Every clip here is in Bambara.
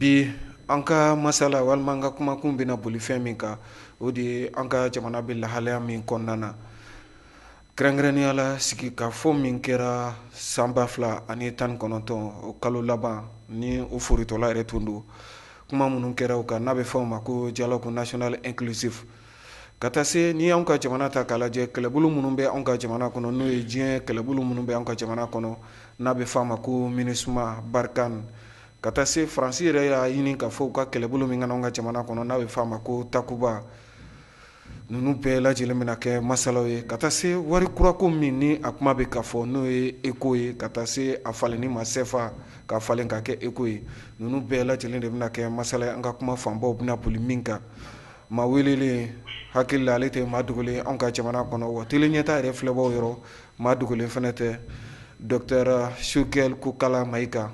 bi an ka masala walima an ka kumakun bɛna boli fɛn min kan o de ye an ka jamana bɛ lahalaya min kɔnɔna na kɛrɛnkɛrɛnnenya la sigikafɔ min kɛra san ba fila ani tan ni kɔnɔntɔn o kalo laban ni o forotɔla yɛrɛ tun don kuma minnu kɛra o kan n'a bɛ fɔ o ma ko dialogue national inclusive ka taa se n'i y'an ka jamana ta k'a lajɛ kɛlɛbolo minnu bɛ anw ka jamana kɔnɔ n'o ye diɲɛ kɛlɛbolo minnu bɛ anw ka jamana kɔnɔ n'a bɛ fɔ a ma ko MINUSMA Barkhane ka taa se faransi yɛrɛ y'a ɲini ka fɔ ka kɛlɛbolo min k'an ka jamana kɔnɔ n'a bɛ f'a ma ko takuba ninnu bɛɛ lajɛlen bɛna kɛ masalaw ye ka taa se wari kurako min ni a kuma bɛ ka fɔ n'o ye eko ye ka taa se a falenni ma sefa ka falen ka kɛ eko ye ninnu bɛɛ lajɛlen de bɛna kɛ masala ye an ka kuma fanbaw bɛna boli min kan maa welelen hakili la ale tɛ maa dogolen an ka jamana kɔnɔ wa tele ɲɛta yɛrɛ filɛbaw yɔrɔ maa dogolen fɛnɛ tɛ docteur Choguel Kokala Mayiga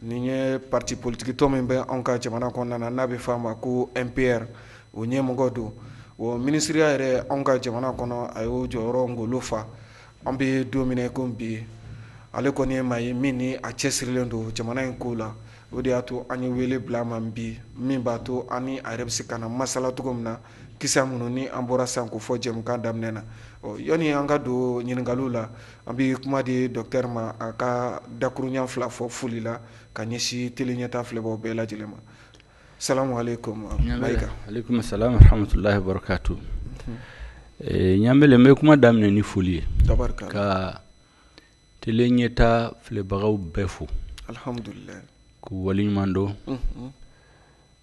Nin ye pati politiki tɔn min bɛ anw ka jamana kɔnɔna na n'a bɛ f'a ma ko MPR o ɲɛmɔgɔ don o minisiriya yɛrɛ anw ka jamana kɔnɔ a y'o jɔyɔrɔ ngolo fa an bɛ don min na ko bi ale kɔni ye maa ye min ni a cɛsirilen don jamana in ko la o de y'a to an ye wele bila a ma bi min b'a to an n'a yɛrɛ bɛ se ka na masala cogo min na ki minnu ni an bɔra san ko fɔ jɛmukan daminɛ na ɔ yanni an ka don ɲininkaliw la An bɛ kuma di docteur ma a ka dakuruɲa fila fɔ foli la ka ɲɛsin tele ɲɛta filɛbaw bɛɛ lajɛlen ma salamu alaikum alaikum salam wa rahmatullahi wa barakatuh ɲamele n bɛ kuma daminɛ ni foli ye ka tele ɲɛta filɛbagaw bɛɛ fo alihamdulila k'u waleɲuman dɔn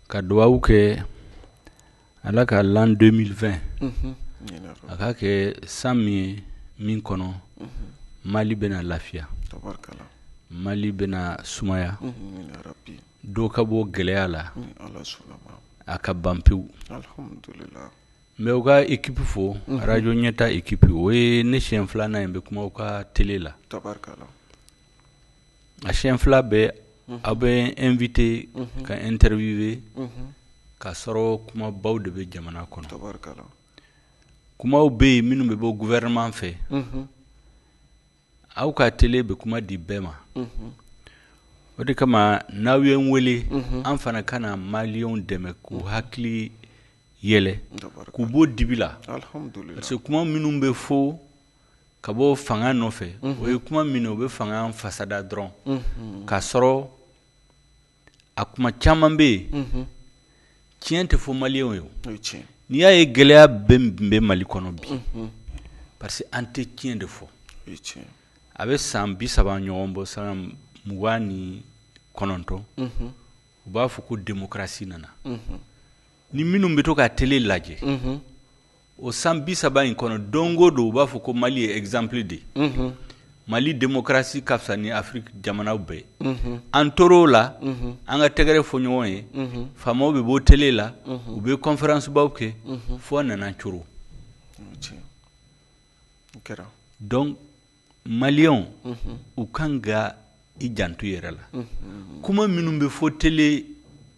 ka dugawu kɛ Ala ka l'an 2020 unhun amina yarabi a k'a kɛ san min ye min kɔnɔ unhun Mali bɛna lafiya tabarikala Mali bɛna sumaya unhun amina yarabi dɔ ka bɔ gɛlɛya la ni Ala sɔnna ma a ka ban pewu alhamudulila n bɛ u ka équipe fo unhun Radio Ɲɛtaa équipe o ye ne siɲɛ 2 nan ye n bɛ kuma u ka télé la tabarikala a siɲɛ fila bɛɛ aw bɛ n invité ka n interviewé k'a sɔrɔ kumabaw de bɛ jamana kɔnɔ kumaw bɛ yen minnu bɛ bɔ gouvernement fɛ aw ka télé bɛ kuma di bɛɛ ma o de kama n'aw ye n weele an fana ka na maliyɛnw dɛmɛ k'u hakili yɛlɛ k'u bɔ dibi la parce que kuma minnu bɛ fɔ ka bɔ fanga nɔfɛ o ye kuma minɛ o bɛ fanga fasada dɔrɔn k'a sɔrɔ a kuma caman bɛ yen tiɲɛ tɛ fɔ maliyɛnw ye n'i y'a ye gɛlɛyaba in bɛ mali kɔnɔ bi parce que an tɛ tiɲɛ de fɔ a bɛ san bi saba ɲɔgɔn bɔ san mugan ni kɔnɔntɔn u b'a fɔ ko demokarasi nana ni minnu bɛ to ka tele lajɛ o san bi saba in kɔnɔ don o don u b'a fɔ ko mali ye exemple de mali demokarasi ka fisa ni afiriki jamanaw bɛɛ an tora o la an ka tɛgɛrɛ fɔ ɲɔgɔn ye faamaw bɛ bɔ tele la u bɛ kɔnfɛransibaw kɛ fo a nana coron donc maliyɛnw u kan ka i janto yɛrɛ la kuma minnu bɛ fɔ tele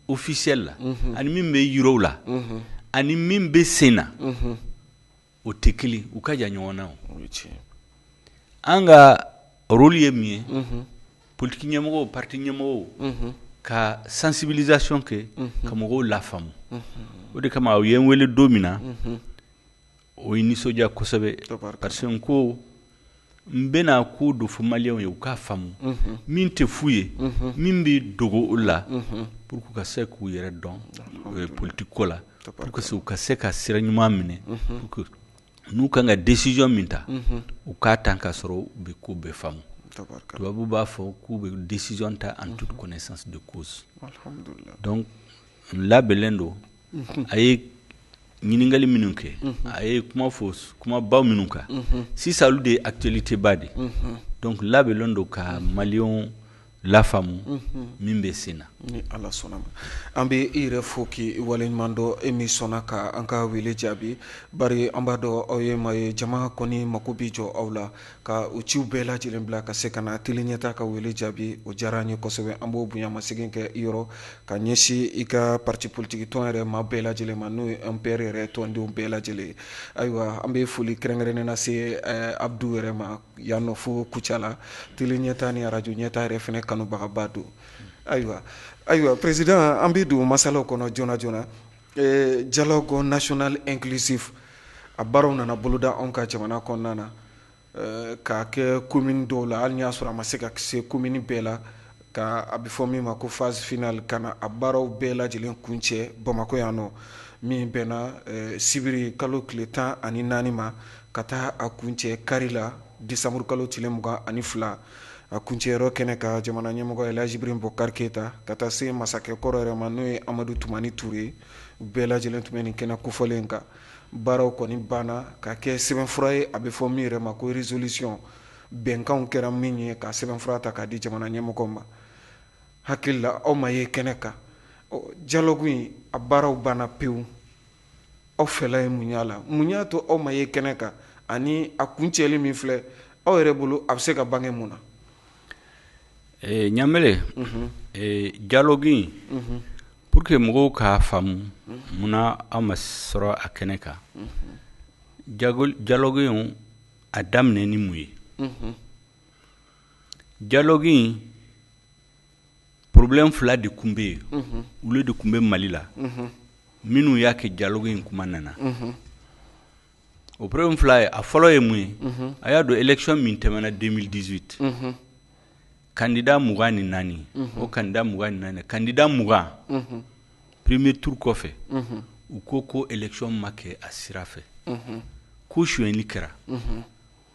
ofisiyɛli la ani min bɛ yir'u la ani min bɛ sen na o tɛ kelen u ka jan ɲɔgɔn na an ka rɔli ye min ye politigi ɲɛmɔgɔ pati ɲɛmɔgɔ ka sansibilizasiyɔn kɛ ka mɔgɔw lafaamu o de kama aw ye n wele don min na o ye nisɔndiya kosɛbɛ parce que n ko n bɛna ko dɔ fɔ maliyɛnw ye u k'a faamu min tɛ f'u ye min bɛ dogo olu la pour que u ka se k'u yɛrɛ dɔn e politiki ko la pour que u ka se ka sira ɲuman minɛ n'u kan ka décision min ta u k'a ta ka sɔrɔ u bɛ ko bɛɛ faamu tubabu b'a fɔ k'u bɛ décision ta en toute connaissance de cause labɛnnen don a ye ɲininkali minnu kɛ a ye kuma fɔ kumabaw minnu kan sisan olu de ye actualité ba de donc labɛnnen don ka maliyɛnw lafaamu min bɛ sen na ni ala sɔnna a ma an bɛ i yɛrɛ fo k'i waleɲuman dɔn e min sɔnna ka an ka wele jaabi bari an b'a dɔn aw ye maa ye jama kɔni mako bɛ jɔ aw la ka u ciw bɛɛ lajɛlen bila ka se ka na tele ɲɛta ka wele jaabi o diyara an ye kosɛbɛ an b'o bonyamasegin kɛ i yɔrɔ ka ɲɛsin i ka pati politigi tɔn yɛrɛ maa bɛɛ lajɛlen ma n'o ye MPR yɛrɛ tɔndenw bɛɛ lajɛlen ayiwa an bɛ foli kɛrɛnkɛrɛnnen na se eh, abudu yɛrɛ ma yan nɔ fo kucala tele ɲɛta ni arajo ɲɛta yɛrɛ fɛnɛ kanubagaba don ayiwa ayiwa perezidan an bɛ don masalaw kɔnɔ joona joona Dialogue national inclusif a baaraw nana boloda anw ka jamana kɔnɔna na k'a kɛ komini dɔw la hali y'a sɔrɔ a ma se ka se komini bɛɛ la ka a bɛ fɔ min ma ko phase finale ka na a baaraw bɛɛ lajɛlen kuncɛ bamakɔ yan nɔ min bɛnna sibiri kalo tile tan ani naani ma ka taa a kuncɛ kari la desanburu kalo tile mugan ani fila a kuncɛyɔrɔ kɛnɛ kan jamana ɲɛmɔgɔ Elaji Ibrahim Bubakar Keyita ka taa se masakɛ kɔrɔ yɛrɛ ma n'o ye Amadu Tumani Ture bɛɛ lajɛlen tun bɛ nin kɛnɛ kofɔlen kan baaraw kɔni banna ka kɛ sɛbɛnfura ye a bɛ fɔ min yɛrɛ ma ko résolution bɛnkan kɛra min ye ka sɛbɛnfura ta k'a di jamana ɲɛmɔgɔ ma hakili la aw ma ye kɛnɛ kan ɔ dialogue in a baaraw banna pewu aw fɛla ye mun y'a la mun y'a to aw ma ye kɛnɛ kan ani a kuncɛli min filɛ aw yɛrɛ bolo a bɛ se ka bange mun na eh, ɲamele mhm. eh, dialogue in mhm. pour que mɔgɔw k'a faamu mhm. munna aw ma sɔrɔ a kɛnɛ kan dialogue in a daminɛ ni mun ye dialogue in problème fila de tun bɛ yen olu de tun bɛ mali la minnu y'a kɛ dialogue in kuma nana o problème fila ye a fɔlɔ ye mun ye a y'a dɔn élection min tɛmɛna deux mille dix-huit kandida mugan ni naani o kandida mugan ni naani kandida mugan premier tour kɔfɛ u ko ko élection ma kɛ a sira fɛ ko suyɛnli kɛra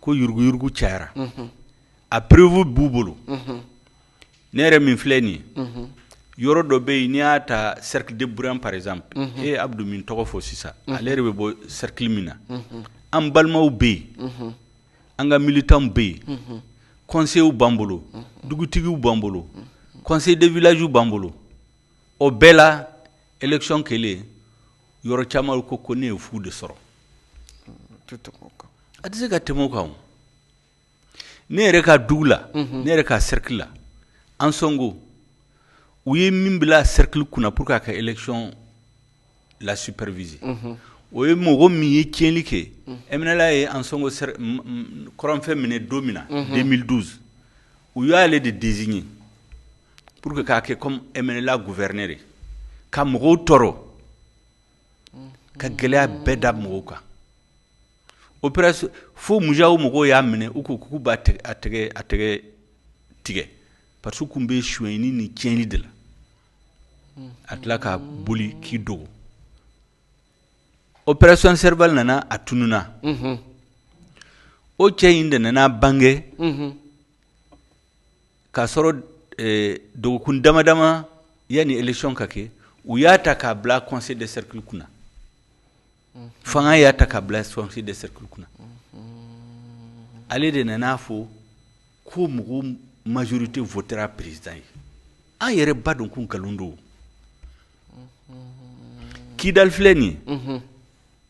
ko yuruguyugu cayara a preuve b'u bolo ne yɛrɛ min filɛ nin ye yɔrɔ dɔ bɛ yen n'i y'a ta cercle de Bourem par exemple e ye Abudu min tɔgɔ fɔ sisan ale yɛrɛ bɛ bɔ cercle min na an balimaw bɛ yen an ka militants bɛ yen conseillers b'an bolo dugutigiw b'an bolo conseil de village b'an bolo o bɛɛ la election kɛlen yɔrɔ caman olu ko ko ne ye fu de sɔrɔ a tɛ se ka tɛmɛ o kan o. ne yɛrɛ ka dugu la ne yɛrɛ ka cercle la Ansongo u ye min bila cercle kunna pour que ka élection la superviser o ye mɔgɔ min ye tiɲɛli kɛ MNLA ye Ansongo kɔrɔnfɛ minɛ don min na deux mille douze u y'ale de désigner pour que k'a kɛ comme MNLA gouverneur ka mɔgɔw tɔɔrɔ ka gɛlɛya bɛɛ da mɔgɔw kan o fo MUJAO mɔgɔw y'a minɛ u ko k'u b'a tɛgɛ tigɛ parce qu'a tun bɛ suyɛnni ni cɛnli de la a tila ka boli k'i dogo opération Serval nana a tununna o cɛ in de nana bange k'a sɔrɔ dɔgɔkun dama dama yanni élection ka kɛ u y'a ta k'a bila conseil de cercle kunna fanga y'a ta k'a bila conseil de cercle kunna ale de nana'a fɔ ko mɔgɔw majorité votera président ye an yɛrɛ b'a dɔn ko nkalon don Kidal filɛ nin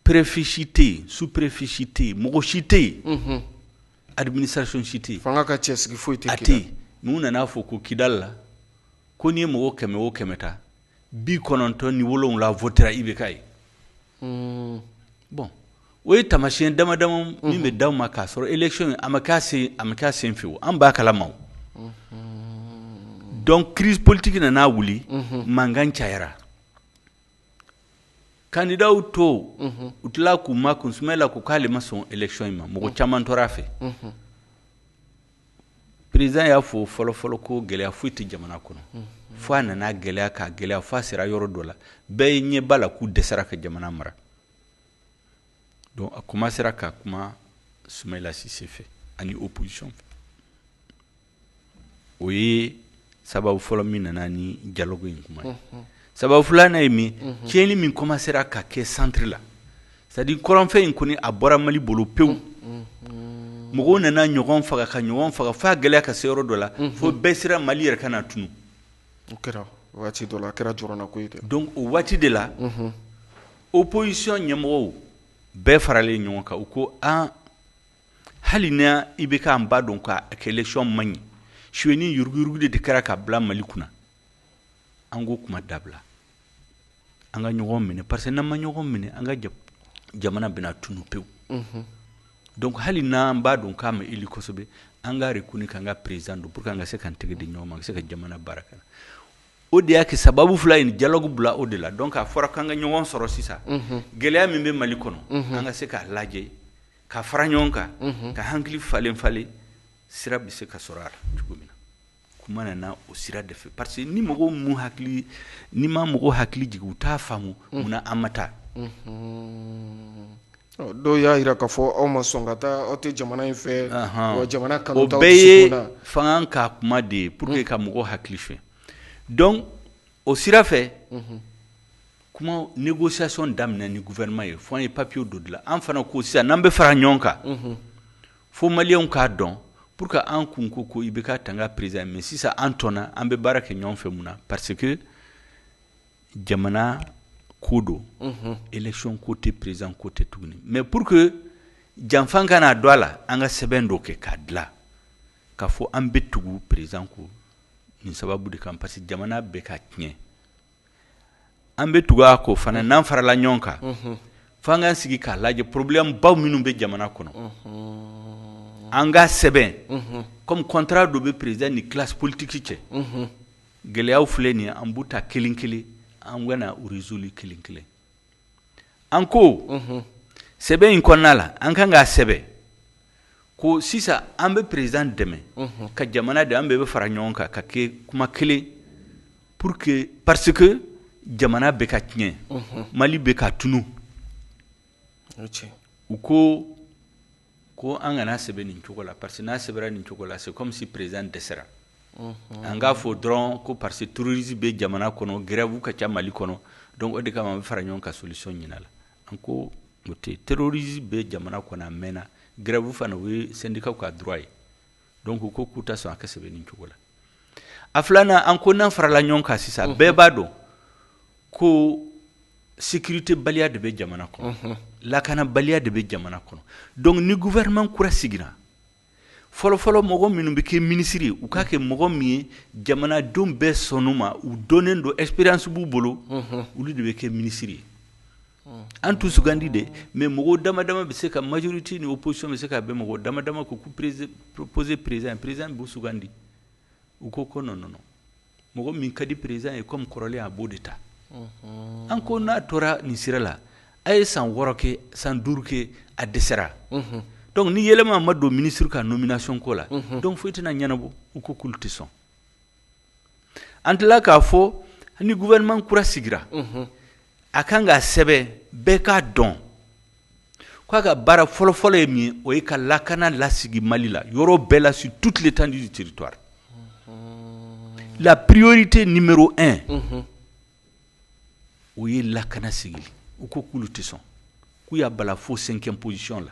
préfet si tɛ yen sous-préfet si tɛ yen mɔgɔ si tɛ yen administration si tɛ fanga ka cɛ sigi foyi tɛ tɛ yen n'u nana'a fɔ ko Kidal la ko n'i ye mɔgɔ kɛmɛ o kɛmɛ ta bi kɔnɔntɔn ni wolonwula votera IBK ye bon o ye taamasiyɛn dama dama min bɛ da ma k'a sɔrɔ élection a ma kɛ a sen fɛ an b'a kala ma donc crise politique nana wuli mankan cayara kandidaw tɔw tila k'u makun Sumayila ko k'ale ma sɔn élection in ma mɔgɔ caman tor'a fɛ président y'a fɔ fɔlɔfɔlɔ ko gɛlɛya foyi tɛ jamana kɔnɔ fo a nana gɛlɛya ka gɛlɛya fo a sera yɔrɔ dɔ la bɛɛ ye ɲɛ b'a la k'u dɛsɛra ka jamana mara donc a commencera ka kuma Sumayila Sise fɛ ani opposition fɛ o ye sababu fɔlɔ min nana ni dialogue in kuma ye sababu filanan ne ye min tiɲɛni min commencera ka kɛ centre la c'est à dire kɔrɔnfɛ in kɔni a bɔra mali bolo pewu mɔgɔw nana ɲɔgɔn faga ka ɲɔgɔn faga f'a gɛlɛya ka se yɔrɔ dɔ la fo bɛɛ siranna mali yɛrɛ kana tunu o kɛra waati dɔ la a kɛra jɔrɔnanko ye dɛ donc o waati de la opposition ɲɛmɔgɔw bɛɛ faralen ɲɔgɔn kan u ko an hali ni IBK an b'a dɔn k'a ka élection man ɲi sonyani yuruguyurugu de kɛra k'a bila mali kunna an ko kuma dabila an ka ɲɔgɔn minɛ parce que n'an ma ɲɔgɔn minɛ an ka jamana bɛna tunu pewu donc hali n'an b'a dɔn k'a ma élu kosɛbɛ an k'a reconnu k'an ka président don pour que an ka se k'an tɛgɛ di ɲɔgɔn ma an ka se ka jamana baara kɛ o de y'a kɛ sababu fila in dialogue bila o de la donc a fɔra k'an ka ɲɔgɔn sɔrɔ sisan gɛlɛya min bɛ Mali kɔnɔ an ka se k'a lajɛ ka fara ɲɔgɔn kan ka hakili falen falen sira bɛ se ka sɔrɔ a la cogo min na kuma nana o sira de fɛ parce que ni mɔgɔw m'u hakili n'i ma mɔgɔw hakili jigin u t'a faamu mun na an ma taa Ɔ, dɔw y'a jira k'a fɔ aw ma sɔn ka taa aw tɛ jamana in fɛ Ahan. wa jamana o kanu t'aw bɛɛ ye dusukun na. fanga ka kuma de ye pour que ka mɔgɔw hakili fɛ donc o sira fɛ kuma négociation daminɛ ni gouvernement ye fo an ye papier dɔ dilan an fana ko sisan n'an bɛ fara ɲɔgɔn kan Fo maliyɛnw k'a dɔn pour que an kun ko ko IBK t'an ka président mais sisan an tɔnna an bɛ baara kɛ ɲɔgɔn fɛ mun na parce que jamana ko don élection ko tɛ président ko tɛ tuguni mais pour que janfan kana don a la an ka sɛbɛn dɔ kɛ k'a dilan k'a fɔ an bɛ tugu président kɔ nin sababu de kan parce que jamana bɛ ka tiɲɛ An bɛ tugu a kɔ fana n'an farala ɲɔgɔn kan, unhun, fo an k'an sigi k'a lajɛ problème baw minnu bɛ jamana kɔnɔ, unhun, an k'a sɛbɛn, unhun, comme contrat dɔ bɛ président ni classe politique cɛ, unhun, gɛlɛyaw filɛ nin ye an b'u ta kelen-kelen an bɛna u résoudre kelen-kelen an ko sɛbɛn in kɔnɔna la an kan k'a sɛbɛn ko sisan an bɛ président dɛmɛ ka jamana de an bɛɛ bɛ fara ɲɔgɔn kan ka kɛ kuma kelen pour que parce que jamana bɛ ka tiɲɛ Mali bɛ ka tunun u ko ko an kan'a sɛbɛn nin cogo la parce que n'a sɛbɛnra nin cogo la c'est comme si président dɛsɛra an k'a fɔ dɔrɔn ko parce que terroriste bɛ jamana kɔnɔ grève ka ca Mali kɔnɔ donc o de kama an bɛ fara ɲɔgɔn ka solution ɲini a la an ko o tɛ terroriste bɛ jamana kɔnɔ a mɛnna grève fana o ye syndicat ka droit ye donc u ko k'u tɛ sɔn a ka sɛbɛn nin cogo la a filanan an ko n'an farala ɲɔgɔn kan sisan bɛɛ b'a dɔn ko sécurité baliya de bɛ jamana kɔnɔ lakana baliya de bɛ jamana kɔnɔ donc ni gouvernement kura sigira fɔlɔfɔlɔ mɔgɔ minnu bɛ kɛ ministre ye u k'a kɛ mɔgɔ min ye jamanadenw bɛɛ sɔnn'u ma u dɔnnen don expérience b'u bolo olu de bɛ kɛ ministre ye An t'u sugandi dɛ mais mɔgɔ dama dama bɛ se ka majorité ni opposition bɛ se ka bɛn mɔgɔ dama dama k'u proposer président in président in b'u sugandi u ko ko non non mɔgɔ min ka di président ye comme kɔrɔlen a b'o de ta an ko n'a tora nin sira la a ye san wɔɔrɔ kɛ san duuru kɛ a dɛsɛra donc ni yɛlɛma ma don ministre ka nomination ko la donc foyi tɛna ɲɛnabɔ u ko k'olu tɛ sɔn an tila k'a fɔ ni gouvernement kura sigira, unhun, a ka kan k'a sɛbɛn bɛɛ k'a dɔn k'a ka baara fɔlɔ-fɔlɔ ye min ye o ye ka lakana lasigi Mali la yɔrɔ bɛɛ la sur toute l'étendue du territoire, unhun, la priorité numéro un unhun, o ye lakana sigili ye u ko k'olu tɛ sɔn k'u y'a bala fo cinquième position la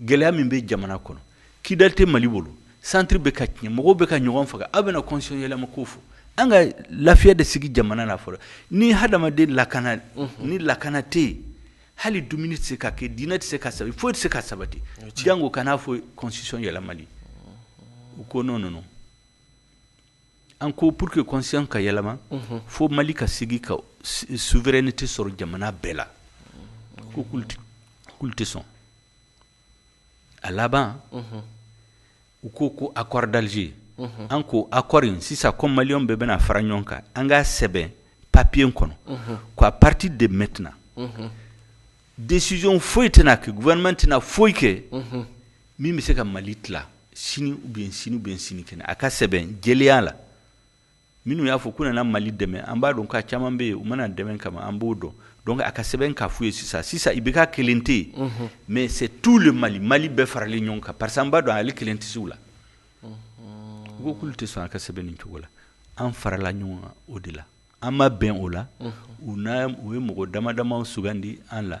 gɛlɛya min bɛ jamana kɔnɔ Kidali tɛ Mali bolo centre bɛ ka tiɲɛ mɔgɔw bɛ ka ɲɔgɔn faga aw bɛna constitution yɛlɛma ko fɔ an ka lafiya de sigi jamana na fɔlɔ ni hadamaden lakana ni lakana tɛ yen hali dumuni tɛ se ka kɛ diinɛ tɛ se ka sabati foyi tɛ se ka sabati janko ka n'a fɔ constitution yɛlɛmali u ko non non An ko pour que constitution ka yɛlɛma unhun fo Mali ka sigi ka souveraineté sɔrɔ jamana bɛɛ la unhun u ko k'olu tɛ sɔn a laban unhun u ko ko accord d'Alger unhun an ko accord in sisan comme malienw bɛɛ bɛna fara ɲɔgɔn kan an k'a sɛbɛn papier kɔnɔ unhun ko à partir de maintenant unhun décision foyi tɛna kɛ gouvernement tɛna foyi kɛ unhun min bɛ se ka mali tila sini ou bien sini ou bien sinikɛnɛ a ka sɛbɛn jɛlenya la minnu y'a fɔ k'u nana mali dɛmɛ an b'a dɔn k'a caman bɛ yen u ma na dɛmɛ kama an b'o dɔn donc a ka sɛbɛn k'a f'u ye sisan sisan IBK kelen tɛ yen mais c'est tout le mali mali bɛɛ faralen ɲɔgɔn kan parce que an b'a dɔn ale kelen tɛ se u la u ko k'olu tɛ sɔn a ka sɛbɛn nin cogo la an farala ɲɔgɔn kan o de la an ma bɛn o la u u ye mɔgɔ dama dama sugandi an la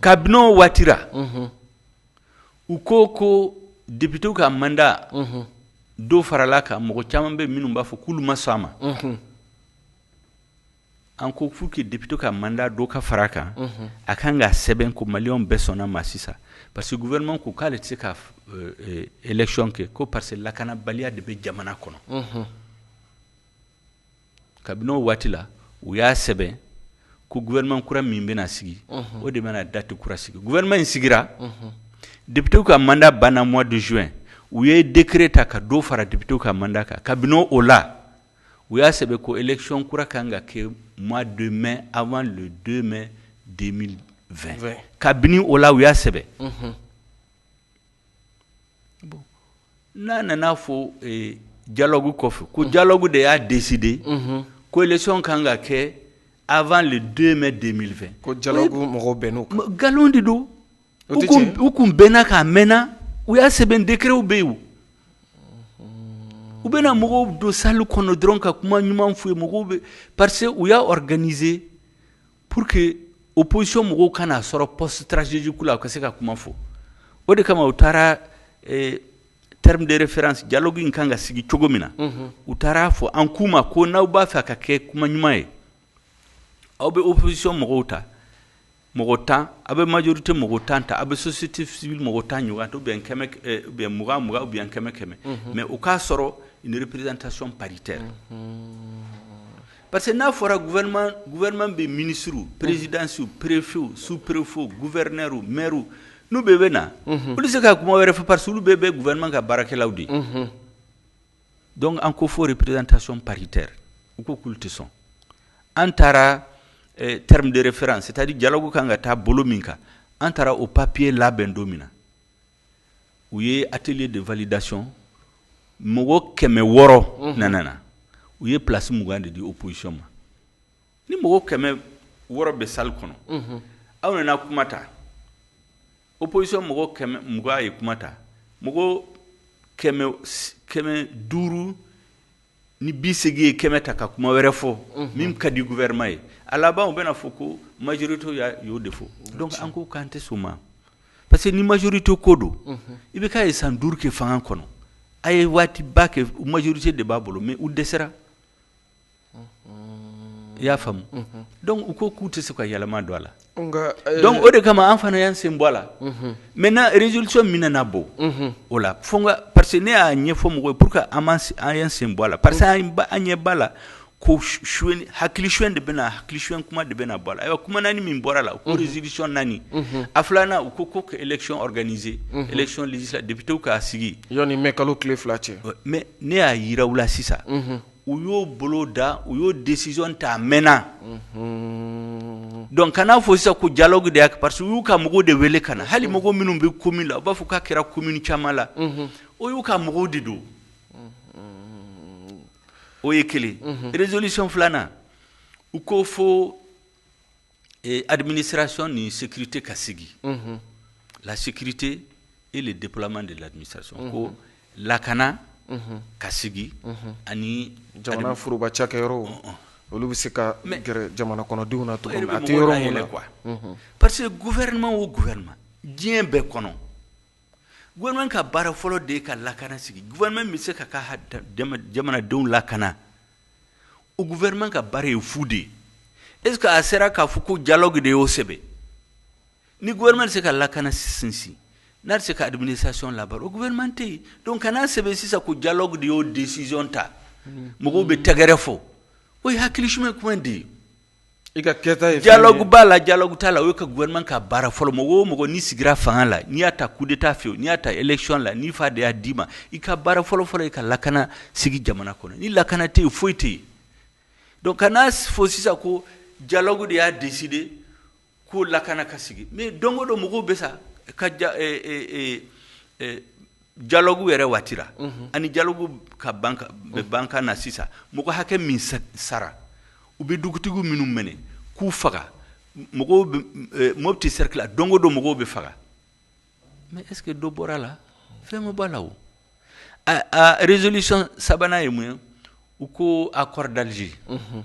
kabini o waati ra u ko ko députés ka mandat dɔ farala a kan mɔgɔ caman bɛ minnu b'a fɔ k'olu ma sɔn a ma an ko pour que députés ka mandat dɔ ka fara a kan a kan ka sɛbɛn ko Malien bɛɛ sɔnna a ma sisan parce que gouvernement ko k'ale tɛ se ka élection kɛ ko parce que lakanabaliya de bɛ jamana kɔnɔ kabini o waati la u y'a sɛbɛn ko gouvernement kura min bɛna sigi o de bɛna date kura sigi gouvernement in sigira députés ka mandat banna mois de juin u ye décret ta ka dɔ fara députés ka mandat kan kabini o la u y'a sɛbɛn ko élection kura ka kan ka kɛ mois de mai avant le 2 mai 2020 kabini o la u y'a sɛbɛn. bon n'a nana a fɔ dialogue kɔfɛ ko dialogue de y'a décider unhun, ko élection ka kan ka kɛ avant le 2 mai 2020 ko dialogue mɔgɔw bɛnna o kan, nkalon de don, o tɛ tiɲɛ ye, u tun bɛnna a kan a mɛɛnna u y'a sɛbɛn décrets bɛ yen, u bɛna mɔgɔw don salle kɔnɔ dɔrɔn ka kuma ɲuman f'u ye mɔgɔw bɛɛ parce que u y'a organiser Pour que opposition mɔgɔw kana n'a sɔrɔ poste stratégique la u ka se ka kuma fɔ o de kama u taara terme de référence dialogue in kan ka sigi cogo min na u taara a fɔ an k'u ma ko n'aw b'a fɛ ka kɛ kuma ɲuman ye aw bɛ opposition mɔgɔw ta mɔgɔ tan aw bɛ majorité mɔgɔ tan ta aw bɛ société civile mɔgɔ tan ɲɔgɔn ta ou bien mugan ou bien kɛmɛ kɛmɛ mais o k'a sɔrɔ une représentation paritaire Parce que n'a fɔra gouvernement bɛ minisiriw, présidences, préfets, sous préfets, gouverneurs, maires n'u bɛɛ bɛ na, unhun, olu tɛ se ka kuma wɛrɛ fɔ parce que olu bɛɛ ye gouvernement ka baarakɛlaw de ye, unhun, donc an ko fo représentation paritaire u ko k'olu tɛ sɔn an taara terme de référence c'est à dire dialogue ka kan ka taa bolo min kan an taara o papier labɛn don min na u ye atelier de validation mɔgɔ kɛmɛ wɔɔrɔ mhm. nana na u ye place mugan de di opposition ma ni mɔgɔ kɛmɛ wɔɔrɔ bɛ salle kɔnɔ mhm. aw nana kuma ta opposition mɔgɔ kɛmɛ mugan ye kuma ta mɔgɔ kɛmɛ duuru ni bi segin ye kɛmɛ ta ka kuma wɛrɛ fɔ min ka di gouvernement ye a laban u bɛna fɔ ko majorité y' y'o de fɔ donc an ko k'an tɛ sɔn a ma parce que ni majorité ko don IBK ye san duuru kɛ fanga kɔnɔ a ye waati ba kɛ majorité de b'a bolo mais u dɛsɛra i y'a faamu donc u ko k'u tɛ se ka yɛlɛma don a la Dɔnku o de kama an fana y' sen bɔ a la mɛ na rezolisi min na bɔ o la fo ka pa que ne y'a ɲɛ ɲɛfɔ mɔgɔ p que an ye sen bɔ a la pa que an an ɲɛ ba la ko hakili su de bɛna hakili su kuma de bɛna bɔ a kuma naaniani min bɔra la o dezoridisi naani a filanan' u ko ko ka ecɔrize ecɔnlisa debitew k'a sigi mɛ kalo tile fila cɛ mɛ ne y'a jiraw la sisan u y'o boloda u y'o décision ta a mɛnna donc ka n'a fɔ sisan ko dialogue de y' parce que u y'u ka mɔgɔw de wele ka na hali mɔgɔ minnu bɛ commune la u b'a fɔ k'a kɛra commune caman la o y'u ka mɔgɔw de don o ye kelen résolution filanan u ko fo Adumini siransi ni sete ka sigi late e de depman de lamisa sɔn ko lakana ka sigi ani jamana foroba cakɛ yɔrɔ olu bɛ se ka gɛrɛ jamana kɔnɔdenw na yɔrɔ kuwa parce que gu wɛrɛma o gu wɛrɛma diɲɛ bɛɛ kɔnɔ g ka baara fɔlɔ de ka lakana sigi gmɛ bɛ se ka ka jamanadenw lakana u guɛman ka baara ye fu de ye e a sera k'a fɔ ko jalo de y'o sɛbɛn ni guɛma se ka lakana sinsin n'a se ka dumuni sasiyon laban o guɛman tɛ yen don kana sɛbɛn sisan ko jalo de y'o desiz ta mɔgɔw bɛ tɛgɛgɛrɛ fɔ o ye hakilisu ye kuma de ye I ka kɛta dialogue b'a la dialogue t'a la o ka gouvernement ka baara fɔlɔ mɔgɔ o mɔgɔ n'i sigira fanga la n'i y'a ta coup d'État fɛ wo n'i y'a ta élection la n'i fa de y'a d'i ma i ka baara fɔlɔfɔlɔ i ka lakana sigi jamana kɔnɔ ni lakana tɛ yen foyi tɛ yen donc ka n'a fɔ sisan ko dialogue de y'a décider ko lakana ka sigi mais don o don mɔgɔw bɛ sa ka ja e, e, e, e, dialogue yɛrɛ waati la mhm. ani dialogue ka ban ka na sisan mɔgɔ hakɛ min sara u bɛ dugutigiw minnu minɛ k'u faga mɔgɔw bɛ e, Mopti cercle la don o don mɔgɔw bɛ faga mais est ce que dɔ bɔra a la fɛn ma bɔ a la o a a résolution sabanan ye mun ye u ko accord d'Alger. Mhm.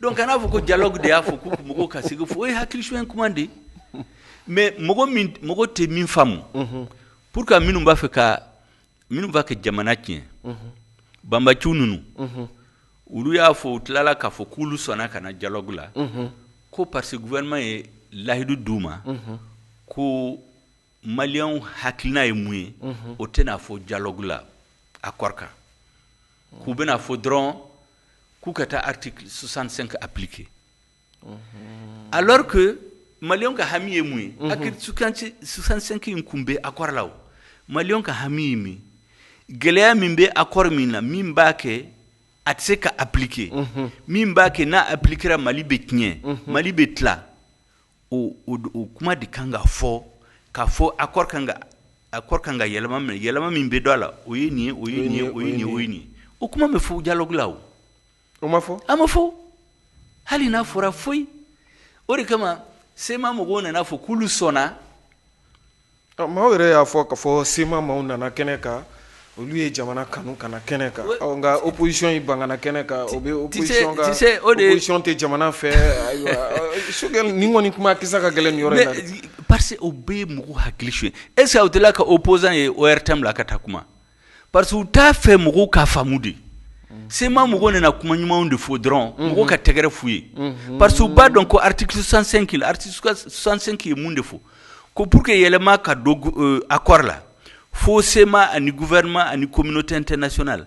Donc a nana fɔ ko dialogue de y'a fɔ ko mɔgɔw ka sigi fo o ye hakili sonyɛ kuma de mais mɔgɔ tɛ min faamu pour que minnu b'a fɛ ka minnu b'a kɛ jamana tiɲɛ banbaanci ninnu olu y'a fɔ u tilala k'a fɔ k'olu sɔnna ka na dialogue la ko parce que gouvernement ye layidu di u ma ko maliyɛnw hakilina ye mun ye o tɛna fɔ dialogue la accord kan k'u bɛna fɔ dɔrɔn k'u ka taa article 65 appliquer alors que maliyɛnw ka hami ye mun ye mhm. article 65 in kun bɛ accord la o maliyɛnw ka hami ye min gɛlɛya min bɛ accord min na min b'a kɛ a tɛ se ka appliquer mhm. min b'a kɛ n'a appliquera mali bɛ tiɲɛ mhm. mali bɛ tila o kuma de kan ka fɔ ka fɔ accord ka accord ka kan ka yɛlɛma mais yɛlɛma min bɛ don a la o ye nin o ye o ye nin o ye nin o kuma ma fɔ dialogue la o o ma fɔ a ma fɔ hali n'a fɔra foyi o de kama CMA mɔgɔw nana fɔ k'olu sɔnna Maaw yɛrɛ y'a fɔ ka fɔ CMA maaw nana kɛnɛ kan olu ye jamana kanu ka na kɛnɛ kan nka opposition y'i ban ka na kɛnɛ kan o bɛ opposition tɛ jamana fɛ Choguel nin kɔni kuma kisɛ ka gɛlɛn yɔrɔ parce que o bɛ mɔgɔw hakili sonyɛ est-ce que aw delila ka opposant ye ORTM la ka taa kuma parce que u t'a fɛ mɔgɔw ka faamu dɛ CMA mɔgɔw nana kuma ɲumanw de fɔ dɔrɔn mɔgɔw ka tɛgɛrɛ fɔ u ye parce que u b'a dɔn ko article 65 ye mun de fɔ ko pour que yɛlɛma ka don accord la fo CMA ani gouvernement ani communauté internationale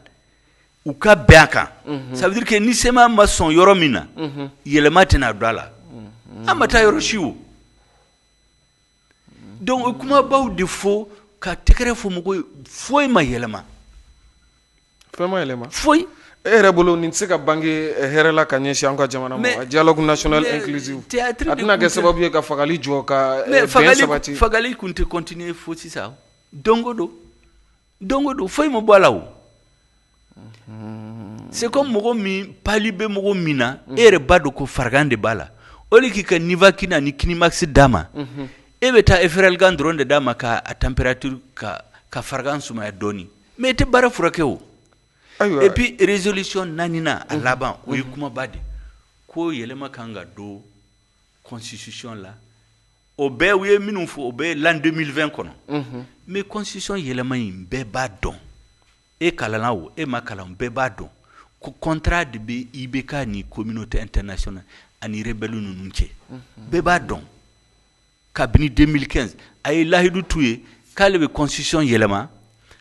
u ka bɛn a kan ça veut dire que ni CMA ma sɔn yɔrɔ min na yɛlɛma tɛna don a la an ma taa yɔrɔ si o donc kumabaw de fɔ ka tɛgɛrɛ fɔ mɔgɔw ye foyi ma yɛlɛma fɛn ma yɛlɛma foyi e yɛrɛ bolo nin tɛ se ka bange hɛrɛ la ka ɲɛsin an ka jamana ma dialogue national inclusif tɛna kɛ sababu ye ka fagali jɔ ka sabati fagali tun tɛ continuer fo sisan don o don Don o don foyi ma bɔ a la o c'est comme mɔgɔ min palu bɛ mɔgɔ min na e yɛrɛ b'a dɔn ko farigan de b'a la au lieu k'i ka nivaquine ni Quinimax d'a ma e bɛ taa Efferalgan dɔrɔn de d'a ma k'a température k'a ka farigan sumaya dɔɔnin mais e tɛ bana furakɛ o et puis résolution naaninan a laban o ye kumaba de ko yɛlɛma ka kan ka don constitution la o bɛɛ u ye minnu fɔ o bɛ l'an 2020 kɔnɔ, unhun, mais constitution yɛlɛma in bɛɛ b'a dɔn e kalanna o e ma kalan bɛɛ b'a dɔn ko contrat de bɛ IBK ni communauté internationale ani rebelles ninnu cɛ, unhun, bɛɛ b'a dɔn kabini 2015 a ye lahidu t'u ye k'ale bɛ constitution yɛlɛma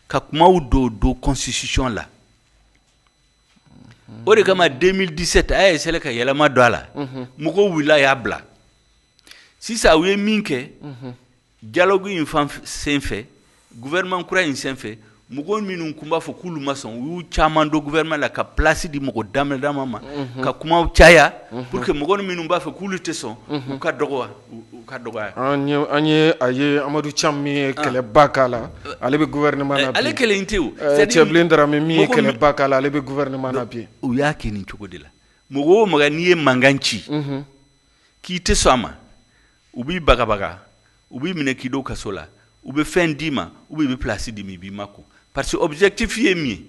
ka kumaw don don constitution la o de kama 2017 a y'a essayer ka yɛlɛma don a la mɔgɔw wulila y'a bila sisan u ye min kɛ dialogue in fan sen fɛ gouvernement kura in sen fɛ mɔgɔ minnu kun b'a fɔ k'olu ma sɔn u y'u caman don gouvernement la ka place di mɔgɔ dama dama ma ka kuma caya pour que mɔgɔ minnu b'a fɔ k'olu tɛ sɔn u ka dɔgɔya Ka dɔgɔ an ye a ye amadou thiam min ye kɛlɛ ba k'a la ale bɛ gouvernement la ale kelen tɛ tiébilé dramé min ye kɛlɛ ba k'a la ale bɛ gouvernement la bi u y'a kɛ nin cogo de la mɔgɔ o mɔgɔ n'i ye mankan ci k'i tɛ sɔn a ma u b'i bagabaga u b'i minɛ k'i don kaso la u bɛ fɛn d'i ma u bɛ place d'i ma i b'i mako parce que objectif ye min ye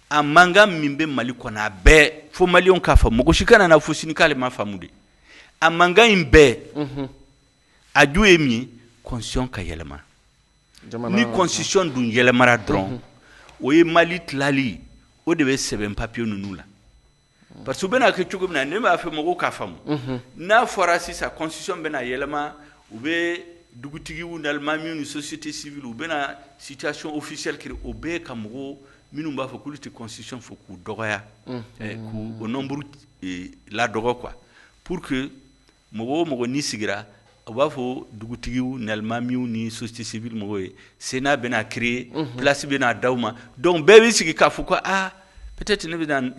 a mankan min bɛ mali kɔnɔ a bɛɛ fo malienw k'a faamu mɔgɔ si kana n'a fɔ sini k'ale m'a faamu de a mankan in bɛɛ a ju ye min ye constitution ka yɛlɛma ni constitution dun yɛlɛmara dɔrɔn o ye mali tilali o de bɛ sɛbɛn papiye ninnu la parce que u bɛn'a kɛ cogo min na ne b'a fɛ mɔgɔw k'a faamu n'a fɔra sisan constitution bɛna yɛlɛma u bɛ dugutigiw n'alimamiw ni société civile u bɛna situation officielle créer o bɛɛ ka mɔgɔw minnu b'a fɔ k'olu tɛ constitution fɛ k'u dɔgɔya k'u nombre ladɔgɔ quoi pour que mɔgɔ o mɔgɔ n'i sigira u b'a fɔ dugutigiw n'alimamiw ni société civile mɔgɔw ye sénat bɛna créer place bɛna d'aw ma donc bɛɛ b'i sigi k'a fɔ ko aa peut-être ne bɛna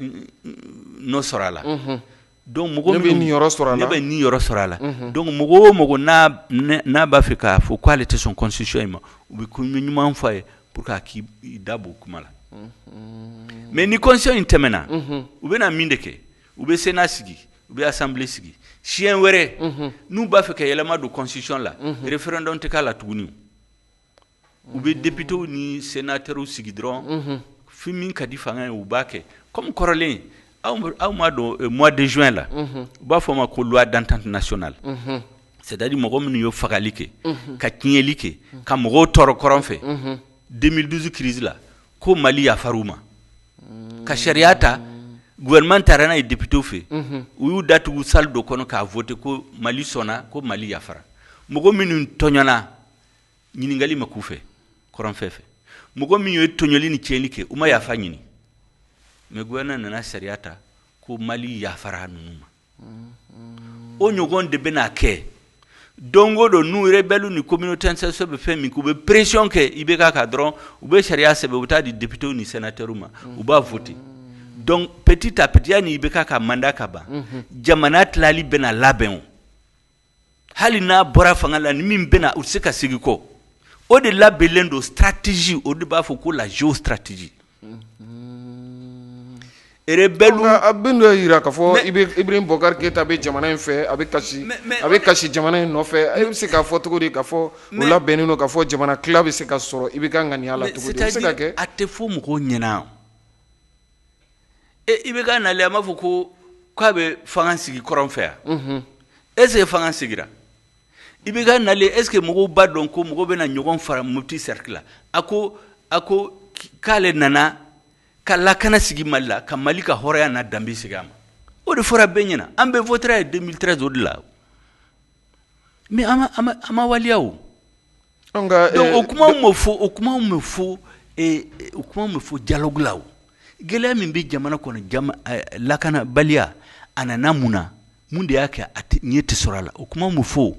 nɔ sɔrɔ a la donc mɔgɔ bɛ ni sɔrɔ ne bɛ niyɔrɔ sɔrɔ a la donc mɔgɔ o mɔgɔ n'a b'a fɛ k'a fɔ k'ale tɛ sɔn constitution in ma u bɛ ko ɲuman fɔ a ye pour que a k'i da bɔ kuma la mais ni constitution in tɛmɛna u bɛna min de kɛ u bɛ sénat sigi u bɛ assemblée sigi siɲɛ wɛrɛ n'u b'a fɛ ka yɛlɛma don constitution la référendum tɛ k'a la tuguni u bɛ députéw ni sénateurw sigi dɔrɔn fɛn min ka di fanga ye u b'a kɛ kɔmi kɔrɔlen aw m'a dɔn mois de juin la u b'a fɔ a ma ko loi d'entente nationale c'est-à-dire mɔgɔ minnu ye fagali kɛ ka tiɲɛli kɛ ka mɔgɔw tɔɔrɔ kɔrɔn fɛ 2012 crise la ko mali yafar'u ma ka sariya ta gouvernement taara n'a ye députéw fɛ u y'u datugu salle dɔ kɔnɔ k'a voter ko mali sɔnna ko mali yafara mɔgɔ minnu tɔɲɔna ɲininkali ma k'u fɛ kɔrɔn fɛ mɔgɔ min ye tɔɲɔli ni tiɲɛli kɛ u ma yafa ɲini mais gouvernement nana sariya ta ko mali yafara ninnu ma o ɲɔgɔn de bɛna kɛ don o don ni rebellew ni communauté internationale bɛ fɛn min kɛ u bɛ pression kɛ IBK kan dɔrɔn u bɛ sariya sɛbɛn u bɛ taa di députéw ni sénateurw ma u b'a voter donc petit à petit yani IBK ka mandat ka ban jamana tilali bɛna labɛn o hali n'a bɔra fanga la ni min bɛna o tɛ se ka segin kɔ o de labɛnlen don stratégie o de b'a fɔ ko la géostratégie rebelle a bɛ dɔ jira k'a fɔ Ibrahim Boubacar Keïta bɛ jamana in fɛ a bɛ kasi a bɛ kasi jamana in nɔfɛ i bɛ se k'a fɔ cogo di k'a fɔ o labɛnnen don k'a fɔ jamana tila bɛ se ka sɔrɔ IBK ŋaniya la cogo di o bɛ se ka kɛ a tɛ fɔ mɔgɔw ɲɛna IBK nalen a m'a fɔ ko k'a bɛ fanga sigi kɔrɔn fɛ yan est-ce que fanga sigira IBK nalen est-ce que mɔgɔw b'a dɔn ko mɔgɔw bɛna ɲɔgɔn faga Mopti cercle la a ko a ko k'ale nana ka lakana sigi mali la ka mali ka hɔrɔnya n'a danbe sigi a ma o de fɔra bɛɛ ɲɛna an bɛɛ votera a ye deux mille treize o de la mais a ma waliya An ka ɛɛ donc o kumaw ma fɔ, o kumaw ma fɔ ee, o kumaw ma fɔ dialogue la o, gɛlɛya min bɛ jamana kɔnɔ jama ɛɛ lakanabaliya a nana mun na? mun de y'a kɛ a tɛ ɲɛ tɛ sɔrɔ a la? o kumaw ma fɔ o,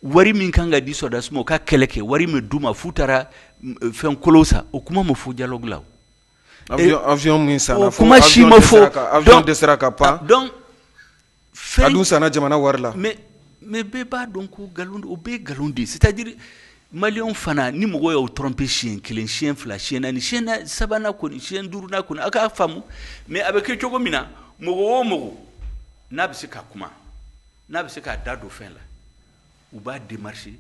wari min ka kan ka di sɔrɔdasiw ma u ka kɛlɛ kɛ wari ma d'u ma f'u taara fɛn kolonw san o kuma ma fɔ dialogue la o, avion avion min sanna, o kuma si ma fɔ, avion dɛsɛra ka pan donc a dun sanna jamana wari la mais mais bɛɛ b'a dɔn ko nkalon don o bɛɛ nkalon de c'est-à-dire maliyɛnw fana ni mɔgɔ y'aw tromper siɲɛ kelen siɲɛ fila siɲɛ naani siɲɛ sabanan kɔni siɲɛ duurunan kɔni aw k'a faamu mais a bɛ kɛ cogo min na mɔgɔ o mɔgɔw n'a bɛ se ka kuma n'a bɛ se k'a da don fɛn la u b'a démarcher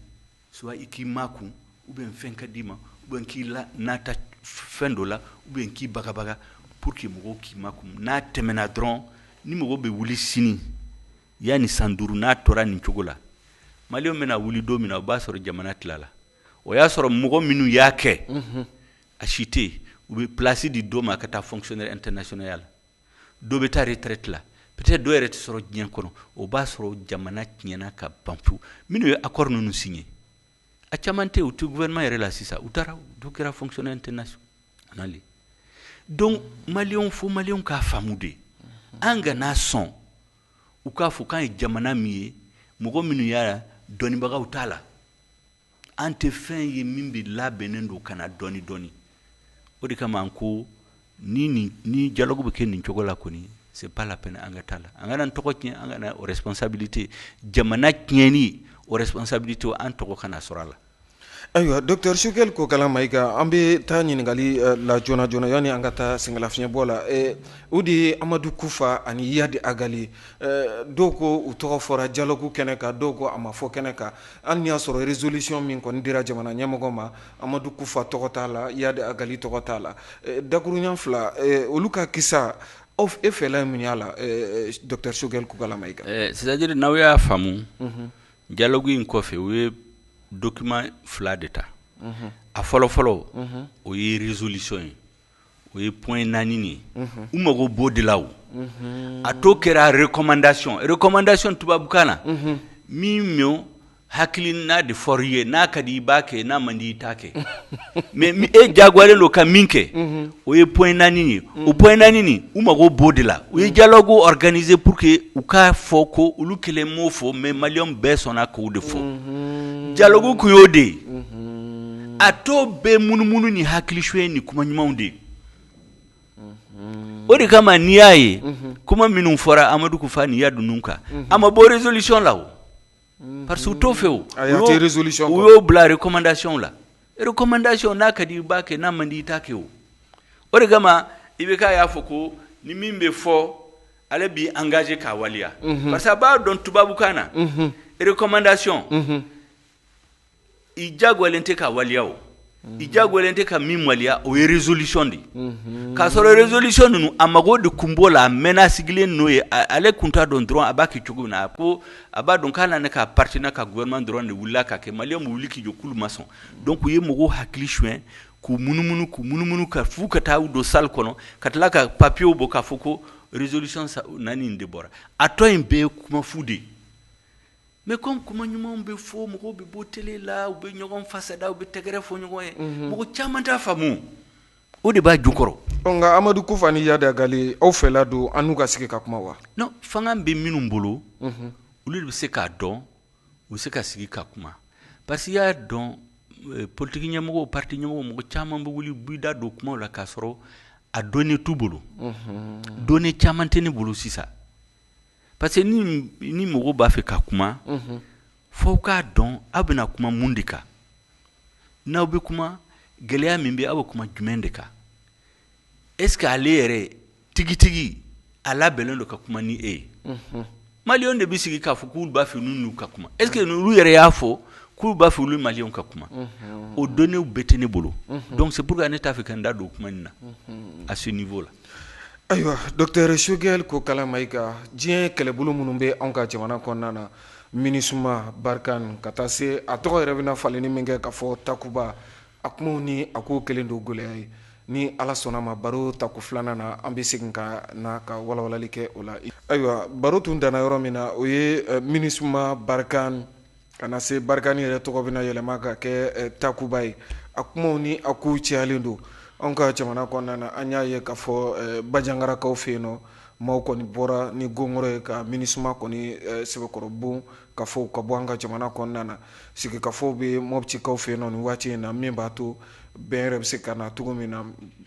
soit i k'i makun ou bien fɛn ka d'i ma ou bien k'i la nata fɛn dɔ la ou bien k'i bagabaga pour que mɔgɔw k'i makun n'a tɛmɛna dɔrɔn ni mɔgɔ bɛ wuli sini yani san duuru n'a tora nin cogo la maliyɛnw bɛna wuli don min na o b'a sɔrɔ jamana tilala o y'a sɔrɔ mɔgɔ minnu y'a kɛ a si tɛ yen u bɛ place di dɔ ma ka taa fonctionnaire international ya la dɔ bɛ taa retraite la peut-être dɔ yɛrɛ tɛ sɔrɔ diɲɛ kɔnɔ o b'a sɔrɔ jamana tiɲɛna ka ban pewu minnu ye accord ninnu signé a caman tɛ u tɛ gouvernement yɛrɛ la sisan u taara dɔ kɛra fonctionnaire international ye donc maliyɛnw fo maliyɛnw k'a faamu de an kana sɔn u k'a fɔ k'an ye jamana min ye mɔgɔ minnu y'a dɔnnibagaw t'a la an tɛ fɛn ye min bɛ labɛnnen don ka na dɔɔni dɔɔni o de kama an ko ni ni dialogue bɛ kɛ nin cogo la kɔni c'est pas la peine an ka taa a la an kana tɔgɔ tiɲɛ an kana o responsabilité jamana tiɲɛni o responsabilité an tɔgɔ kana sɔrɔ a la ayiwa dɔkitari Choguel Kokalla Maïga an bɛ taa ɲininkali eh, la joona joona yanni an ka taa sɛgɛnlafiɲɛbɔ la eh, o de ye amadu kufa ani yadi agali eh, dɔw ko u tɔgɔ fɔra dialogue kɛnɛ kan dɔw ko a ma fɔ kɛnɛ kan Hali n'i y'a sɔrɔ résolution min kɔni dira jamana ɲɛmɔgɔ ma, Amadu Kufa tɔgɔ t'a la, Yadi Agali tɔgɔ t'a la. Dakurunɲɛ fila, olu ka kisa, aw e fɛla ye mun y'a la docteur Choguel Kokalla Maïga? Ɛɛ c'est à dire n'aw y'a faamu, unhun, dialogue in kɔfɛ, u ye document fila de ta, unhun, a fɔlɔ fɔlɔ, unhun, o ye résolution ye. o ye point naani de ye u mago b'o de la a tɔ kɛra recommandation recommandation tubabukan na min mɔgɔ hakilina de fɔr'i ye n'a ka di i b'a kɛ n'a man di i t'a kɛ mais i diyagoyalen don ka min kɛ o ye point naani ye o point naani u mago b'o de la u ye dialogue organiser pour que u k'a fɔ ko olu kelen m'o fɔ mais maliyɛnw bɛɛ sɔnna k'o de fɔ dialogue kun y'o de ye a tɔ bɛɛ munumunu ni hakili suɲɛ ni kuma ɲumanw de ye o de kama n'i y'a ye kuma minnu fɔra amadu kufa ni yadu ninnu kan a ma bɔ résolution la parce que u t'o fɛ u y'o bila recommandation la recommandation n'a ka di i b'a kɛ n'a man di i t'a kɛ o o de kama IBK y'a fɔ ko ni min bɛ fɔ ale b'i engagé k'a waleya parce que a b'a dɔn tubabukan na recommandation i diyagoyalen tɛ k'a waleya o i diyagoyalen tɛ ka min waleya o ye résolution de ye k'a sɔrɔ résolution ninnu a mago de tun b'o la a mɛɛnna sigilen n'o ye ale tun t'a dɔn dɔrɔn a b'a kɛ cogo min na a ko a b'a dɔn k'a n'a n'a ka parti n'a ka gouvernement dɔrɔn de wulila k'a kɛ maliyɛnw bɛ wuli k'i jɔ k'olu ma sɔn donc u ye mɔgɔw hakili suɲɛ k'u munumunu k'u munumunu ka f'u ka taa u don salle kɔnɔ ka tila ka papiers bɔ k'a fɔ ko résolution naani nin de bɔra a tɔ in bɛɛ ye kuma fu de ye mais comme kuma ɲumanw bɛ fɔ mɔgɔw bɛ bɔ télé la u bɛ ɲɔgɔn fasada u bɛ tɛgɛrɛ fɔ ɲɔgɔn ye mɔgɔ caman t'a faamu o de b'a jukɔrɔ nka amadu kufa ni yadi agali aw fɛla don an n'u ka sigi ka kuma wa fanga bɛ minnu bolo olu de bɛ se k'a dɔn u bɛ se ka sigi ka kuma parce que i y'a dɔn politiki ɲɛmɔgɔ parti ɲɛmɔgɔ mɔgɔ caman bɛ wuli b'i da don kuma la k'a sɔrɔ a données t'u bolo données caman tɛ ne bolo sisan parce que ni mɔgɔw b'a fɛ ka kuma f'aw k'a dɔn aw bɛna kuma mun de kan n'aw bɛ kuma gɛlɛya min bɛ aw bɛ kuma jumɛn de kan est ce que ale yɛrɛ tigitigi a labɛnnen don ka kuma ni e ye maliyɛnw de bɛ sigi k'a fɔ k'u b'a fɛ n'u ka kuma est ce que olu yɛrɛ y'a fɔ k'u b'a fɛ olu mali ka kuma o données bɛɛ tɛ ne bolo donc c'est pourquoi ne t'a fɛ ka n da don o kuma in na à ce niveau là Ayiwa docteur Choguel Kokalla Maïga diɲɛ kɛlɛbolo minnu bɛ anw ka jamana kɔnɔna na MINUSMA Barkhane ka taa se a tɔgɔ yɛrɛ bɛna falenni min kɛ k'a fɔ Takuba a kumaw ni a ko kɛlen don gɛlɛya ye ni ala sɔnn'a ma baro tako filanan na an bɛ segin ka na ka walawalali kɛ o la ayiwa baro tun danna yɔrɔ min na o ye MINUSMA Barkhane Ka na se Barkhane yɛrɛ tɔgɔ bɛna yɛlɛma ka kɛ takuba ye a kumaw ni a kow cayalen don an ka jamana kɔnɔna na an y'a ye k'a fɔ bajangarakaw fɛ yen nɔ maaw kɔni bɔra ni gɔngɔrɔ ye ka MINUSMA kɔni sɛbɛkɔrɔ bon ka fɔ ka bɔ an ka jamana kɔnɔna na sigikafɔw bɛ mɔptikaw fɛ yen nɔ nin waati in na min b'a to bɛn yɛrɛ bɛ se ka na cogo min na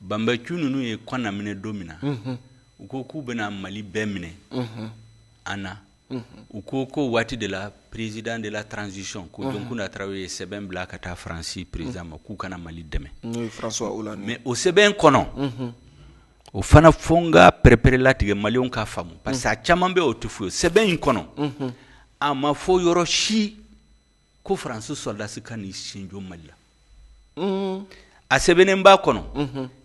banbanciw ninnu ye Kɔna minɛ don min na u ko k'u bɛna mali bɛɛ minɛ an na u ko k'o waati de la président de la transition ko Jonkunda Tarawele ye sɛbɛn bila ka taa faransi président ma k'u ka na mali dɛmɛ François Hollande mais o sɛbɛn kɔnɔ o fana fo n k'a pɛrɛpɛrɛlatigɛ maliyɛnw k'a faamu parce que caman bɛ o t'o fɔ sɛbɛn in kɔnɔ a ma fɔ yɔrɔ si ko faransi sɔrɔdasi ka n'i sen jɔ mali la a sɛbɛnnen b'a kɔnɔ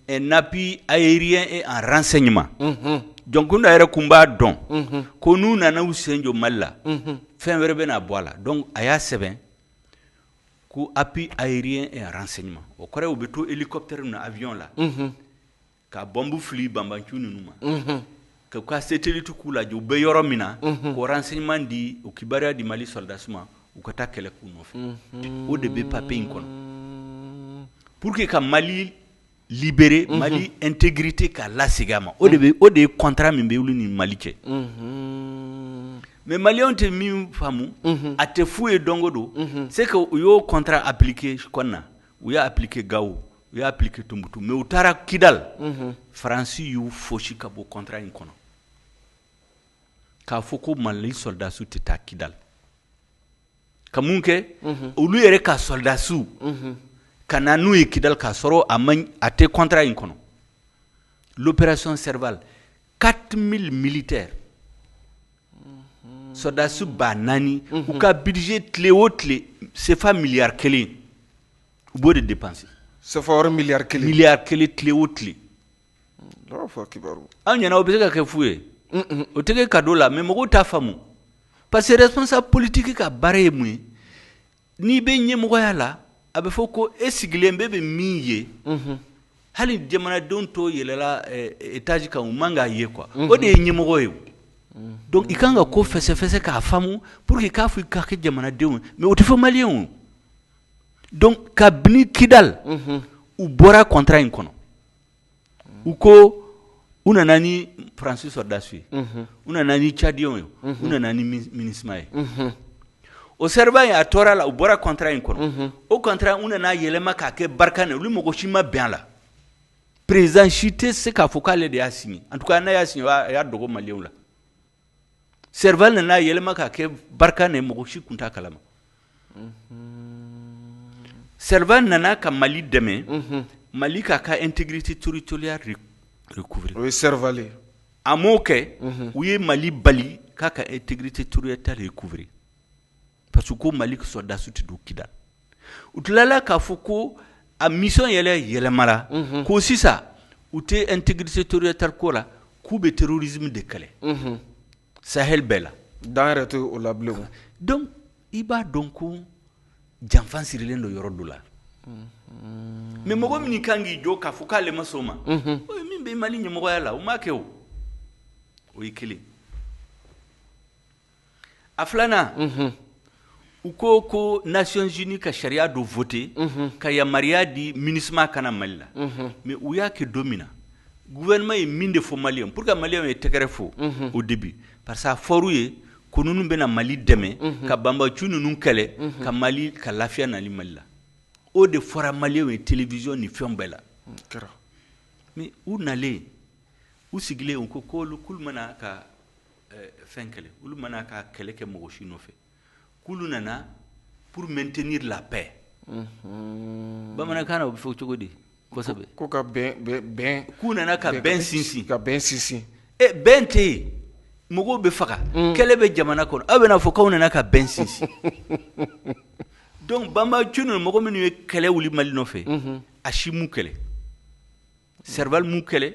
un appui aérien et en renseignement Jonkunda yɛrɛ tun b'a dɔn ko n'u nana u sen jɔ mali la fɛn wɛrɛ bɛna bɔ a la donc a y'a sɛbɛn ko appui aérien et en renseignement o kɔrɔ u bɛ to hélicoptère na avion la ka bɔnbu fili banbanciw ninnu ma ka satellite k'u lajɛ u bɛ yɔrɔ min na k'o renseignement di o kibaruya di mali sɔrɔdasiw ma u ka taa kɛlɛ k'u nɔfɛ o de bɛ papier in kɔnɔ pour que ka mali libérer mali intégrité k'a lasegin a ma o de ye contrat min bɛ olu ni mali cɛ mais maliyɛnw tɛ min faamu a tɛ fu ye donc donc c'est que u y'o contrat appliquer Kɔna u y'a appliquer Gawo u y'a appliquer Tumutu mais u taara kidali faransi y'u fosi ka bɔ contrat in kɔnɔ k'a fɔ ko mali sɔrɔdasiw tɛ taa kidali ka mun kɛ olu yɛrɛ ka sɔrɔdasiw ka na n'u ye kidali k'a sɔrɔ a tɛ contrat in kɔnɔ l'opération Serval quatre mille militaires sɔrɔdasi ba naani u ka budget tile o tile sefa miliyari kelen u b'o de dépenser sefa miliyari kelen tile o tile aw ɲɛna o bɛ se ka kɛ fu ye o tɛ kɛ cadeau la mais mɔgɔw t'a faamu parce que responsable politique ka baara ye mun ye n'i bɛ ɲɛmɔgɔya la a bɛ fɔ ko e sigilen bɛ bɛ min ye hali jamanadenw to yɛlɛla étage kan u man k'a ye quoi o de ye ɲɛmɔgɔ ye donc i kan ka ko fɛsɛfɛsɛ k'a faamu pour que i k'a fɔ i ka ka jamanadenw ye mais o tɛ fɔ maliyɛnw donc kabini kidali u bɔra contrat in kɔnɔ u ko u nana ni faransi sɔrɔdasiw ye u nana ni cadiyɛnw ye u nana ni MINUSMA ye o Serval in a tɔɔrɔ la u bɔra contrat in kɔnɔ o contrat u nana yɛlɛma k'a kɛ Barkhane olu mɔgɔ si ma bɛn a la président si tɛ se k'a fɔ k'ale de y'a signer en tout cas n'a y'a signer a y'a dogo maliyɛnw la Seribaa nana n'a yɛlɛma ka kɛ barika ni mɔgɔ si tun ta kalama seri nana ka mali dɛmɛ mali k'a ka n tɛgti turu toliya o ye seri a mɔ'o kɛ u ye mali bali k'a ka e tɛgti toroya ta de ye kubiri parce que ko mali sɔrɔdasiw tɛ don Kidal u tilala k'a fɔ ko a mission yɛrɛ yɛlɛmara ko sisan u tɛ intégrité territoriale ko la k'u bɛ terrorisme de kɛlɛ Sahel bɛɛ la dan yɛrɛ tɛ o la donc i b'a dɔn ko janfa sirilen don yɔrɔ dɔ la mais mɔgɔ min kan k'i jɔ k'a fɔ k'ale ma sɔn o ma min bɛ mali ɲɛmɔgɔya la o m'a kɛ o o ye kelen a filanan u ko ko Nations Unies ka sariya dɔ voter ka yamaruya di MINUSMA ka na mali la mais u y'a kɛ don min na gouvernement ye min de fɔ mali ye pour que maliyɛnw ye tɛgɛrɛ fɔ au début parce qu'a fɔr'u ye ko ninnu bɛna mali dɛmɛ ka banbaanciw ninnu kɛlɛ ka mali ka lafiya nati mali la o de fɔra maliyɛnw ye télévision ni fɛn bɛɛ la u nalen u sigilen u ko ko olu k'olu ma na ka fɛn kɛlɛ olu ma na ka kɛlɛ kɛ mɔgɔ si nɔfɛ k'olu nana pour maintenir la paix mhm. bamanankan na o bɛ fɔ cogo di kosɛbɛ ko ka bɛn k'u nana ka bɛn sinsin ka bɛn sinsin e eh, bɛn tɛ yen mɔgɔw bɛ faga mm. kɛlɛ bɛ jamana kɔnɔ aw bɛna fɔ k'aw nana ka bɛn sinsin donc banbaanciw ninnu mɔgɔ minnu ye kɛlɛ wuli mali nɔfɛ mhm. a si m'u kɛlɛ serval m'u kɛlɛ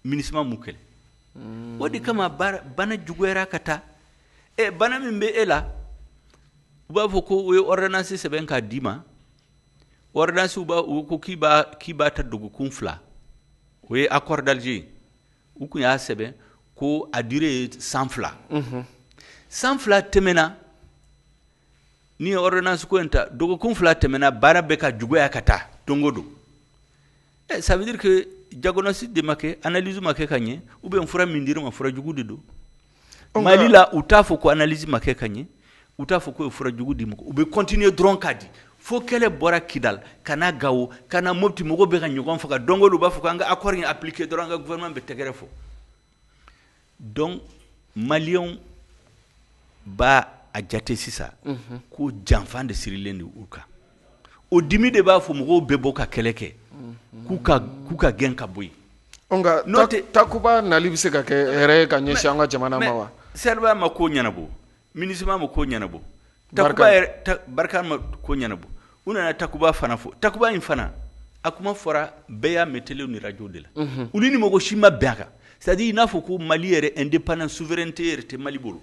MINUSMA m'u kɛlɛ o de kama bana juguyara ka taa e bana min bɛ e la u b'a fɔ ko o ye ordonnance sɛbɛn k'a d'i ma ordonnance b'a u ko k'i b'a k'i b'a ta dɔgɔkun fila o ye accord d'Alger ye u tun y'a sɛbɛn ko a durée ye san fila san fila tɛmɛna Ni ordonnance ko in ta dɔgɔkun fila tɛmɛna bana bɛ ka juguya ka taa don go don ça veut dire que diagnostic de ma kɛ analyse ma kɛ ka ɲɛ ou bien fura min dir'i ma fura jugu de don mali la u t'a fɔ ko analyse ma kɛ ka ɲɛ u t'a fɔ k'u ye fura jugu d'i ma u bɛ continuer dɔrɔn k'a di fo kɛlɛ bɔra Kidal ka na Gao ka na Mopti mɔgɔw bɛ ka ɲɔgɔn faga don go don u b'a fɔ k'an ka accord in appliquer dɔrɔn an ka gouvernement bɛ tɛgɛrɛ fɔ donc maliyɛnw b'a jate sisan ko janfa de sirilen don u kan o dimi de b'a fɔ mɔgɔw bɛ bɔ ka kɛlɛ kɛ k'u k'u ka gɛn ka bɔ yen nka n'o tɛ takuba nali bɛ se ka kɛ hɛrɛ ye ka ɲɛsin an ka jamana ma wa Serval ma ko ɲɛnabɔ MINUSMA ma ko ɲɛnabɔ Barkhane ma ko ɲɛnabɔ u nana Takuba fana fɔ Takuba in fana a kuma fɔra bɛɛ y'a mɛn télé ni radio de la olu ni mɔgɔ si ma bɛn a kan c'est-à-dire i n'a fɔ ko Mali yɛrɛ indépendance souveraineté yɛrɛ tɛ Mali bolo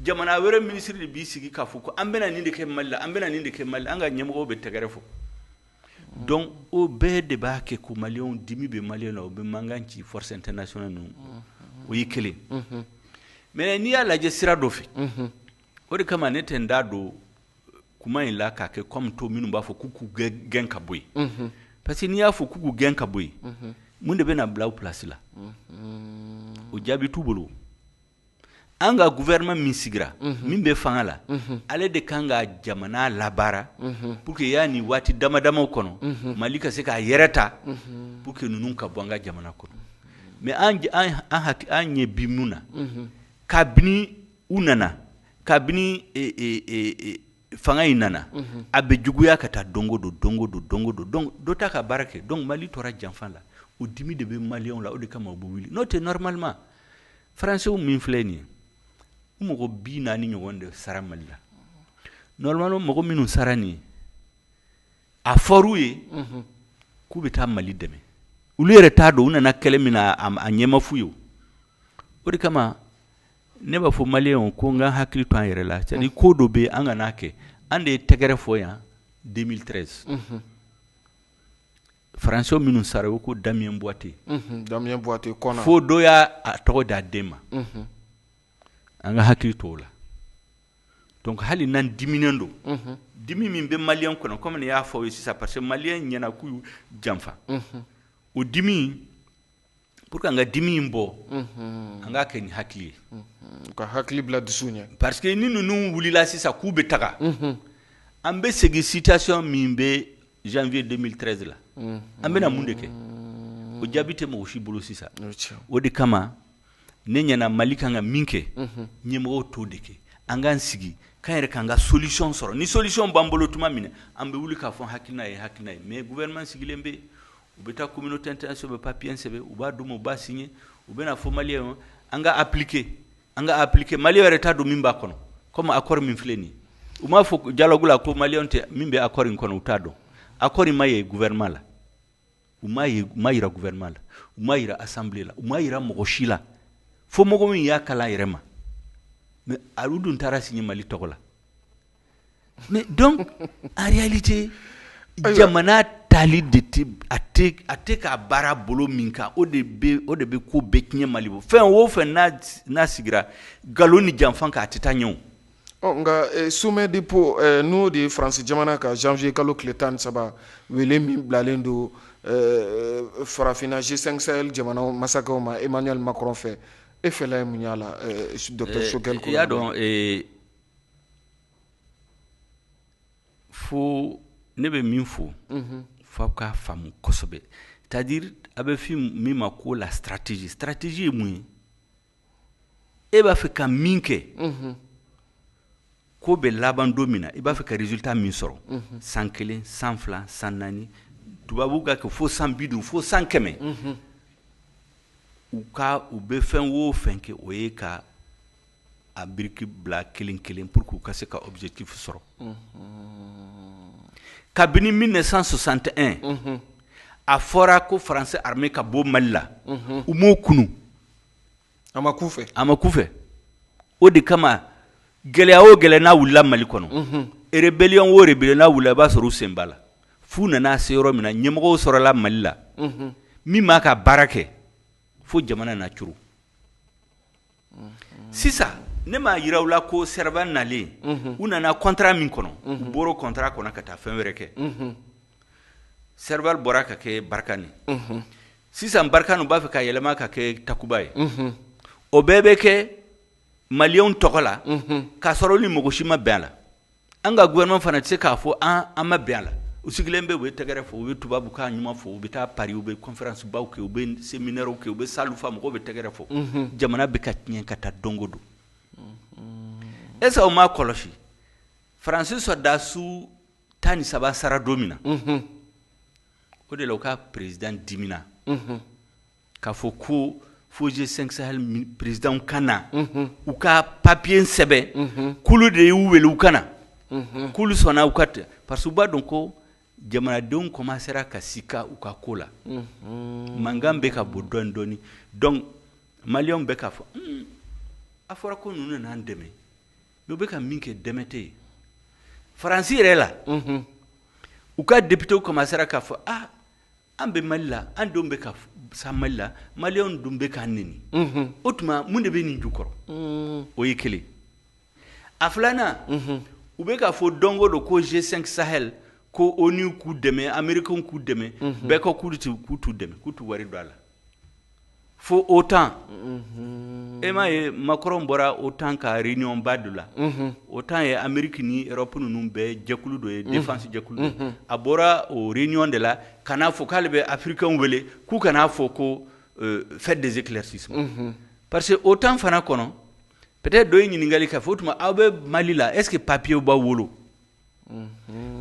jamana wɛrɛ ministre de b'i sigi k'a fɔ ko an bɛna nin de kɛ Mali la an bɛna nin de kɛ Mali la an ka ɲɛmɔgɔw bɛ tɛgɛrɛ fɔ donc o bɛɛ de b'a kɛ ko maliyɛnw dimi bɛ maliyɛnw la u bɛ mankan ci force internationale ninnu o ye kelen mais n'i y'a lajɛ sira dɔ fɛ o de kama ne tɛ n da don kuma in la k'a kɛ comme tɔw minnu b'a fɔ k'u k'u gɛn ka bɔ yen parce que n'i y'a fɔ k'u k'u gɛn ka bɔ yen mun de bɛna bila u place la o jaabi t'u bolo an ka gouvernement min sigira min bɛ fanga la ale de kan ka jamana labaara pour que yanni waati dama damaw kɔnɔ Mali ka se k'a yɛrɛ ta pour que ninnu ka bɔ an ka jamana kɔnɔ mais an ɲɛ bɛ min na kabini u nana kabini fanga in nana a bɛ juguya ka taa don o don don o don don o don dɔ t'a ka baara kɛ donc Mali tora janfa la o dimi de bɛ maliyɛnw la o de kama u bɛ wuli n'o tɛ normalement français min filɛ nin ye u mɔgɔ bi naani ɲɔgɔn de sara Mali la normalement mɔgɔ minnu sara nin ye a fɔr'u ye k'u bɛ taa Mali dɛmɛ olu yɛrɛ t'a dɔn u nana kɛlɛ min na a ɲɛ ma f'u ye o de kama ne b'a fɔ maliyɛnw ko an ka hakili to an yɛrɛ la c'est-à-dire ko dɔ bɛ yen an kan'a kɛ an de ye tɛgɛrɛ fɔ yan 2013 français minnu sara u ko Damien Boiteux fo dɔ y'a tɔgɔ d'a den ma an ka hakili to o la donc hali n'an diminen don dimi min bɛ maliyɛnw kɔnɔ comme ne y'a fɔ sisan parce que maliyɛnw ɲɛna k'u janfa o dimi pour que an ka dimi in bɔ an k'a kɛ ni hakili ye ka hakili bila dusu ɲɛ parce que ni ninnu wulila sisan k'u bɛ taga an bɛ segin situation min bɛ janvier 2013 la an bɛna mun de kɛ o jaabi tɛ mɔgɔ si bolo sisan o de kama ne ɲɛna Mali kan ka min kɛ ɲɛmɔgɔw t'o de kɛ an k'an sigi k'an yɛrɛ k'an ka solution sɔrɔ ni solution b'an bolo tuma min na an bɛ wuli k'a fɔ hakilina ye hakilina ye mais gouvernement sigilen bɛ U bɛ taa kɔmi tɛtɛnɛn sɛbɛn papiyesɛ kosɛbɛ u b'a dun u ba sin ye u bɛna fɔ mali ye an ka apilike an ka apilike mali yɛrɛ ta don min b'a kɔnɔ kɔmi a kɔrɔ min filɛ nin u b'a fɔ jala ko mali tɛ min bɛ a kɔrɔ in kɔnɔ u t'a dɔn a kɔrɔ ma ye guɛma la u ma jirara guɛma la u ma jirara asanla u ma jirara mɔgɔ si la fo mɔgɔ min y'a kala yɛrɛ ma mɛ ali dun taara sini mali tɔgɔ la donc en réalité jamana tali de a tɛ ka baara bolo min kan o de o de bɛ ko bɛɛ tiɲɛ mali bolo fɛn o fɛn n'a sigira nkalon ni janfa kan a tɛ taa ɲɛ nka sommet de Pau n'o de ye France jamana ka janvier kalo tile tan ni saba wele min bilalen don farafinna G 5 Sahel jamana masakɛw ma Emmanuel Macron fɛ e fɛla ye mun y'a la docteur Choguel y'a dɔn fo ne bɛ min fɔ fo aw k'a faamu kosɛbɛ c'est à dire a bɛ fɔ min ma ko la stratégie stratégie ye mun ye e b'a fɛ ka min kɛ ko bɛ laban don min na i b'a fɛ ka résultat min sɔrɔ san kelen san fila san naani tubabu ka kɛ fo san bi duuru fo san kɛmɛ u ka u bɛ fɛn o fɛn kɛ o ye ka a biriki bila kelen kelen pour que ka se ka objectif sɔrɔ kabini mille neuf cent soixante et un a fɔra ko France armée ka bɔ mali la u m'o kunu a ma kun u fɛ o de kama gɛlɛya o gɛlɛya n'a wulila mali kɔnɔ rébellion o rébellion n'a wulila a b'a sɔrɔ u sen b'a la f'u nana se yɔrɔ min na ɲɛmɔgɔ sɔrɔla mali la min m'a ka baara kɛ fo jamana na c sisan ne m'a jira aw la ko Serval nalen u nana contrat min kɔnɔ u bɔra o contrat kɔnɔ ka taa fɛn wɛrɛ kɛ Serval bɔra ka kɛ Barkhane sisan Barkhane u b'a fɛ ka yɛlɛma ka kɛ Takuba ye o bɛɛ bɛ kɛ maliyɛnw tɔgɔ la k'a sɔrɔ ni mɔgɔ si ma bɛn a la An ka gouvernement fana tɛ se k'a fɔ an an ma bɛn a la, u sigilen bɛ u bɛ tɛgɛrɛ fɔ, u bɛ tubabu kan ɲuman fɔ, u bɛ taa Paris u bɛ conférences baw kɛ, u bɛ séminaires kɛ, u bɛ salles fa, mɔgɔw bɛ tɛgɛrɛ fɔ, unhun, jamana bɛ ka tiɲɛ ka taa don o don, unhun, est ce que aw m'a kɔlɔsi France soldat su 13 sara don min na, unhun, o de la u ka président dimina, unhun. k'a fɔ ko fo G 5 Sahel présidents ka na, unhun, u ka papier sɛbɛn, unhun, k'olu de y'u wele u ka na, unhun, k'olu sɔnna u ka ten parce que u b'a dɔn ko jamanadenw commencer ra ka sika u ka ko la, unhun, mankan bɛ ka bɔ dɔɔnin dɔɔnin donc maliyɛnw bɛ k'a fɔ un a fɔra ko ninnu de n'an dɛmɛ mais u bɛ ka min kɛ dɛmɛ tɛ yen France yɛrɛ la, unhun, u ka députés commencer ra k'a fɔ aa an bɛ mali la an denw bɛ ka sa mali la maliyɛnw dun bɛ k'an neni o tuma mun de bɛ nin jukɔrɔ o ye kelen a filanan u bɛ k'a fɔ don o don ko G 5 Sahel ko ONU k'u dɛmɛ Américains k'u dɛmɛ bɛɛ ko k'u t'u dɛmɛ k'u t'u wari don a la fo otan e m'a ye makɔrɔn bɔra otan ka réunionba dɔ la otan ye ameriki ni europe ninnu bɛɛ jɛkulu dɔ ye défense jɛkulu a bɔra o réunion de la ka n'a fɔ k'ale bɛ afirikɛnw wele k'u ka na a fɔ ko faites des éclaircissements parce que otan fana kɔnɔ peut-être dɔ ye ɲininkali k'a fɔ o tuma aw bɛ mali la est-ce que papiye b'aw bolo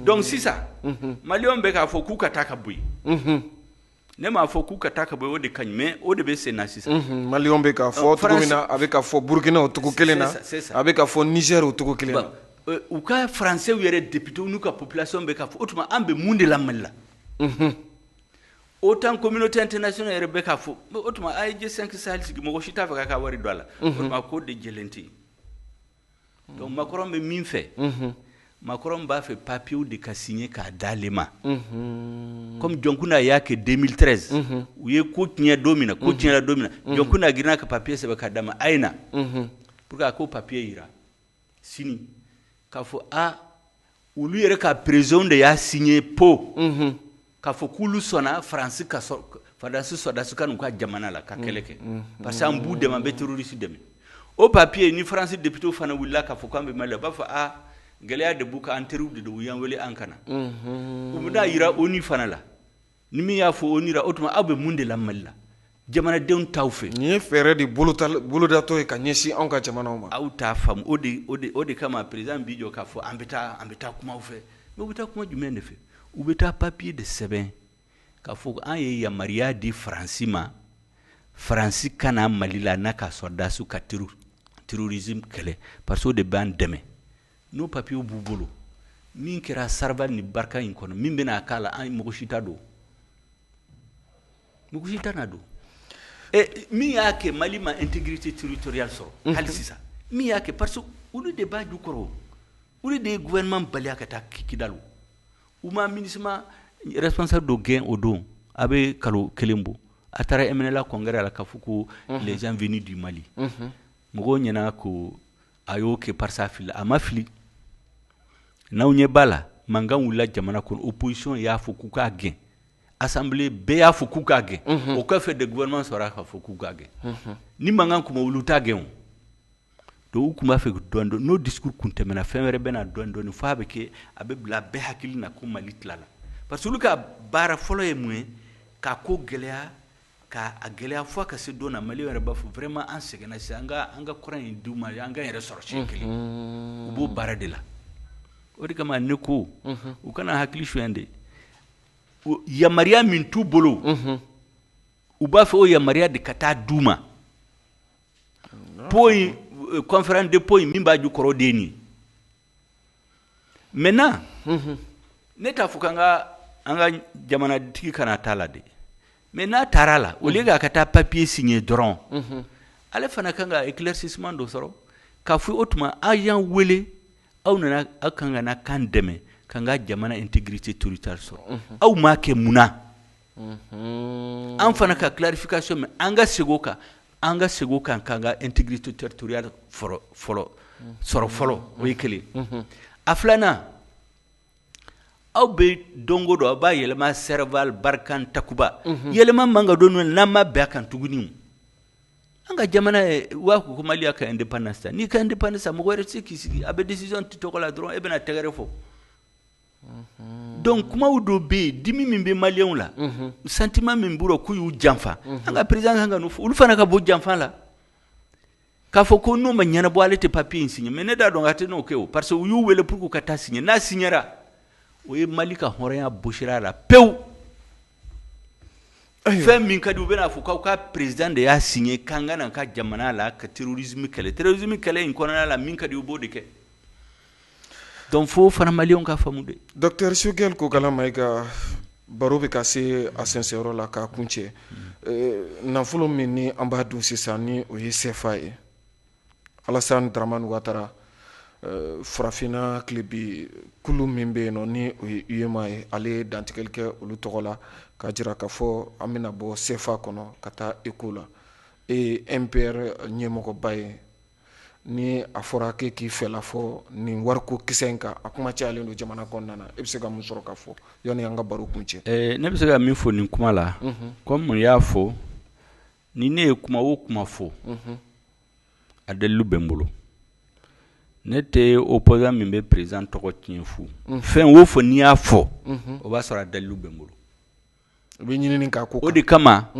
donc sisan maliyɛnw bɛ k'a fɔ k'u ka taa ka bɔ yen Ne m'a fɔ k'u ka taa ka bɔ o de ka ɲi mais o de bɛ sen na sisan maliyɛnw bɛ k'a fɔ cogo min na a bɛ ka fɔ burukina o cogo kelen na a bɛ ka fɔ nizɛr o cogo kelen na u ka faransɛw yɛrɛ député n'u ka population bɛ k'a fɔ o tuma an bɛ mun de la mali la otan communauté internationale yɛrɛ bɛ k'a fɔ o tuma a ye G5 sahel sigi mɔgɔ si t'a fɛ k'a ka wari don a la o tuma ko de jɛlen tɛ Donc makɔrɔn bɛ min fɛ makɔrɔn b'a fɛ papiyew de ka signer k'a d'ale ma kɔmi jɔnkunda y'a kɛ deux mille treize u ye ko tiɲɛ don min na ko tiɲɛna don min na jɔnkunda girinna ka papiye sɛbɛn k'a d'a ma a ye na pour que a k'o papiye jira sini k'a fɔ aa olu yɛrɛ ka président de y'a signé pour k'a fɔ k'olu sɔnna faransi ka fadasi sɔrɔdasi ka n'u ka jamana la ka kɛlɛ kɛ parce que an b'u dɛmɛ an bɛ terroriste dɛmɛ o papiye ni faransi député fana wulila k'a fɔ k'an bɛ mali la u b'a fɔ aa gɛlɛya de b'u kan an teriw de don u y'an wele an ka na u bɛ n'a jira onu fana la Ni min y'a fɔ onu la o tuma aw bɛ mun de la mali la jamanadenw t'aw fɛ nin ye fɛɛrɛ de bolodatɔ ye ka ɲɛsin anw ka jamana ma aw t'a faamu o o de kama président bɛ jɔ k'a fɔ an bɛ taa kuma a fɛ mais u bɛ taa kuma jumɛn de fɛ u bɛ taa papiye de sɛbɛn k'a fɔ an ye yamaruya di faransi ma faransi ka na mali la n'a ka sɔrɔdasiw ka terrorisme kɛlɛ parce que o de b'an dɛmɛ n'o papiyew b'u bolo min kɛra serval ni barkhane kɔnɔ min bɛna k'a la an mɔgɔ si t'a dɔn mɔgɔ t'a dɔn min y'a kɛ mali ma intégrité territoriale sɔrɔ hali sisan min y'a kɛ parce que olu de b'a jukɔrɔ olu de ye gouvernement bali ka taa kidali u ma minusma responsable dɔ gɛn o don a bɛ kalo kelen bɔ a taara mnla congrès la k'a fɔ ko les gens venus du mali mɔgɔw ɲɛna ko a y'o kɛ parce que a fili a ma fili n'aw ɲɛ b'a la mankan wulila jamana kɔnɔ opposition y'a fɔ k'u k'a gɛn assemblée bɛɛ y'a fɔ k'u k'a gɛn o kɔfɛ de gouvernement sɔrɔla k'a fɔ k'u k'a gɛn ni mankan kun ma wuli u t'a gɛn donc u tun b'a fɛ dɔɔni dɔɔni n'o discours kun tɛmɛna fɛn wɛrɛ bɛna na dɔɔni dɔɔni f'a bɛ kɛ a bɛ bila bɛɛ hakili na ko mali tilala parce que olu ka baara fɔlɔ ye mun ye k'a ko gɛlɛya K'a gɛlɛya fo ka se don na mali yɛrɛ b'a fɔ vraiment an sɛgɛnna sisan an ka an ka kɔrɔn in d'u ma an k'an yɛrɛ sɔrɔ siɲɛ kelen u b'o baara de la o de kama ne ko u kan'an hakili suɲɛ dɛ yamaruya min t'u bolo u b'a fɛ o yamaruya de ka taa d'u ma Pau in conférence de Pau in min b'a jukɔrɔ de ye nin Maintenant ne t'a fɔ k'an ka jamanatigi kana taa a la dɛ mais n'a taara a la au lieu k'a ka taa papiye siɲe dɔrɔn ale fana kan ka éclaircissement dɔ sɔrɔ k'a fɔ o tuma aw y'an weele aw nana aw kan ka na k'an dɛmɛ k'an ka jamana intégrité territoriale sɔrɔ aw m'a kɛ mun an fana ka clarification mɛn an ka segin o kan an ka segin o kan k'an ka intégrité territoriale sɔrɔ fɔlɔ o ye kelen a filanan aw bɛ don o don aw b'a yɛlɛma Serval Barkhane Takuba yɛlɛma man ka don n'an ma bɛn a kan tuguni an ka jamana ye waa ko mali y'a ka indépendance ta n'i ka indépendance mɔgɔ wɛrɛ tɛ se k'i sigi a bɛ décision t'i tɔgɔ la dɔrɔn e bɛna tɛgɛrɛ fɔ donc kumaw dɔ bɛ yen dimi min bɛ maliyɛnw la sentiment min b'u la k'u y'u janfa an ka président kan ka n'o fɔ olu fana ka bɔ janfa la k'a fɔ ko n'o ma ɲɛnabɔ ale tɛ papiye in siɲe mais ne t'a dɔn k'a tɛ n'o kɛ o parce que u y'u wele pour k'u ka taa siɲe n'a siɲera o ye mali ka hɔrɔnya bɔsira a la pewu fɛn min ka di u bɛn'a fɔ k'aw ka président de y'a siɲe k'an ka n'a ka jamana la ka terrorisme kɛlɛ terrorisme kɛlɛ in kɔnɔna la min ka di u b'o de kɛ donc fo fana maliyɛnw k'a faamu dɛ docteur Choguel Kokalla Maïga baro bɛ ka se a sɛnsɛnyɔrɔ la k'a kuncɛ nafolo min ni an b'a dun sisan ni o ye sefa ye alasan daramani watara farafinna tilebin kulu min bɛ yen nɔ ni o ye UEMOA ye ale ye dantigɛli kɛ olu tɔgɔ la k'a jira k'a fɔ an bɛna bɔ sefa kɔnɔ ka taa eko la e ye MPR ɲɛmɔgɔba ye ni a fɔra k'e k'i fɛla fɔ nin wariko kisɛ in kan a kuma cayalen don jamana kɔnɔna na e bɛ se ka mun sɔrɔ ka fɔ yanni an ka baro kuncɛ ne bɛ se ka min fɔ nin kuma la comme n y'a fɔ ni ne ye kuma o kuma fɔ a dalilu bɛ n bolo ne tɛ opposant min bɛ président tɔgɔ tiɲɛ fu fɛn o fɛn ni n y'a fɔ o b'a sɔrɔ a dalilu bɛ n bolo n bɛ ɲinini k'a ko kan o de kama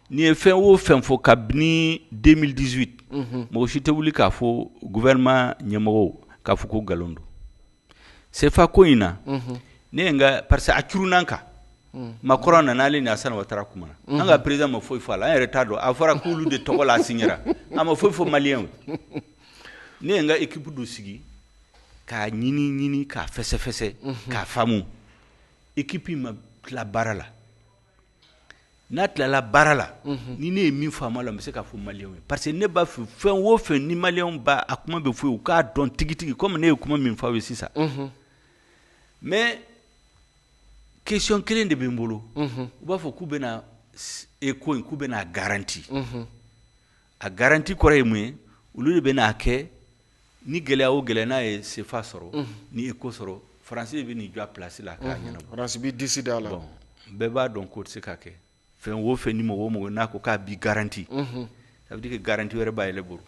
ni n ye fɛn o fɛn fɔ kabini deux mille dix-huit mɔgɔ si tɛ wuli k'a fɔ gouvernement ɲɛmɔgɔ k'a fɔ ko nkalon don Sefa ko in na ne ye n ka parce que a curunna an kan Macron nana ale ni alasan watara kumana an ka président ma foyi fɔ a la an yɛrɛ t'a dɔn a fɔra k'olu de tɔgɔ la a siɲera a ma foyi fɔ maliyɛnw ye ne ye n ka équipe dɔ sigi k'a ɲini ɲini k'a fɛsɛfɛsɛ k'a faamu équipe in ma tila baara la n'a tilala baara la ni ne ye min faamu a la n bɛ se k'a fɔ maliyɛnw ye parce que ne b'a fɛ fɛn wo fɛn ni maliyɛnw b'a a kuma bɛ fɔ ye u k'a dɔn tigitigi kɔmi ne ye kuma min fɔ aw ye sisan mɛ question kelen de bɛ n bolo u b'a fɔ k'u bɛna eko in k'u bɛna garanti a garanti kɔrɔ ye mun ye olu de bɛna kɛ ni gɛlɛya o gɛlɛya n'a ye sefa sɔrɔ ni eko sɔrɔ faransi de bɛ n'i jɔ a plasi la k'a ɲɛnabɔ faransi b'i disi d'a la bɛɛ b'a dɔn k'o tɛ se ka kɛ fɛn wo fɛn ni mɔgɔ o mɔgɔ n'a ko k'a b'i garanti ça veut dire que garanti wɛrɛ b'a yɛrɛ bolo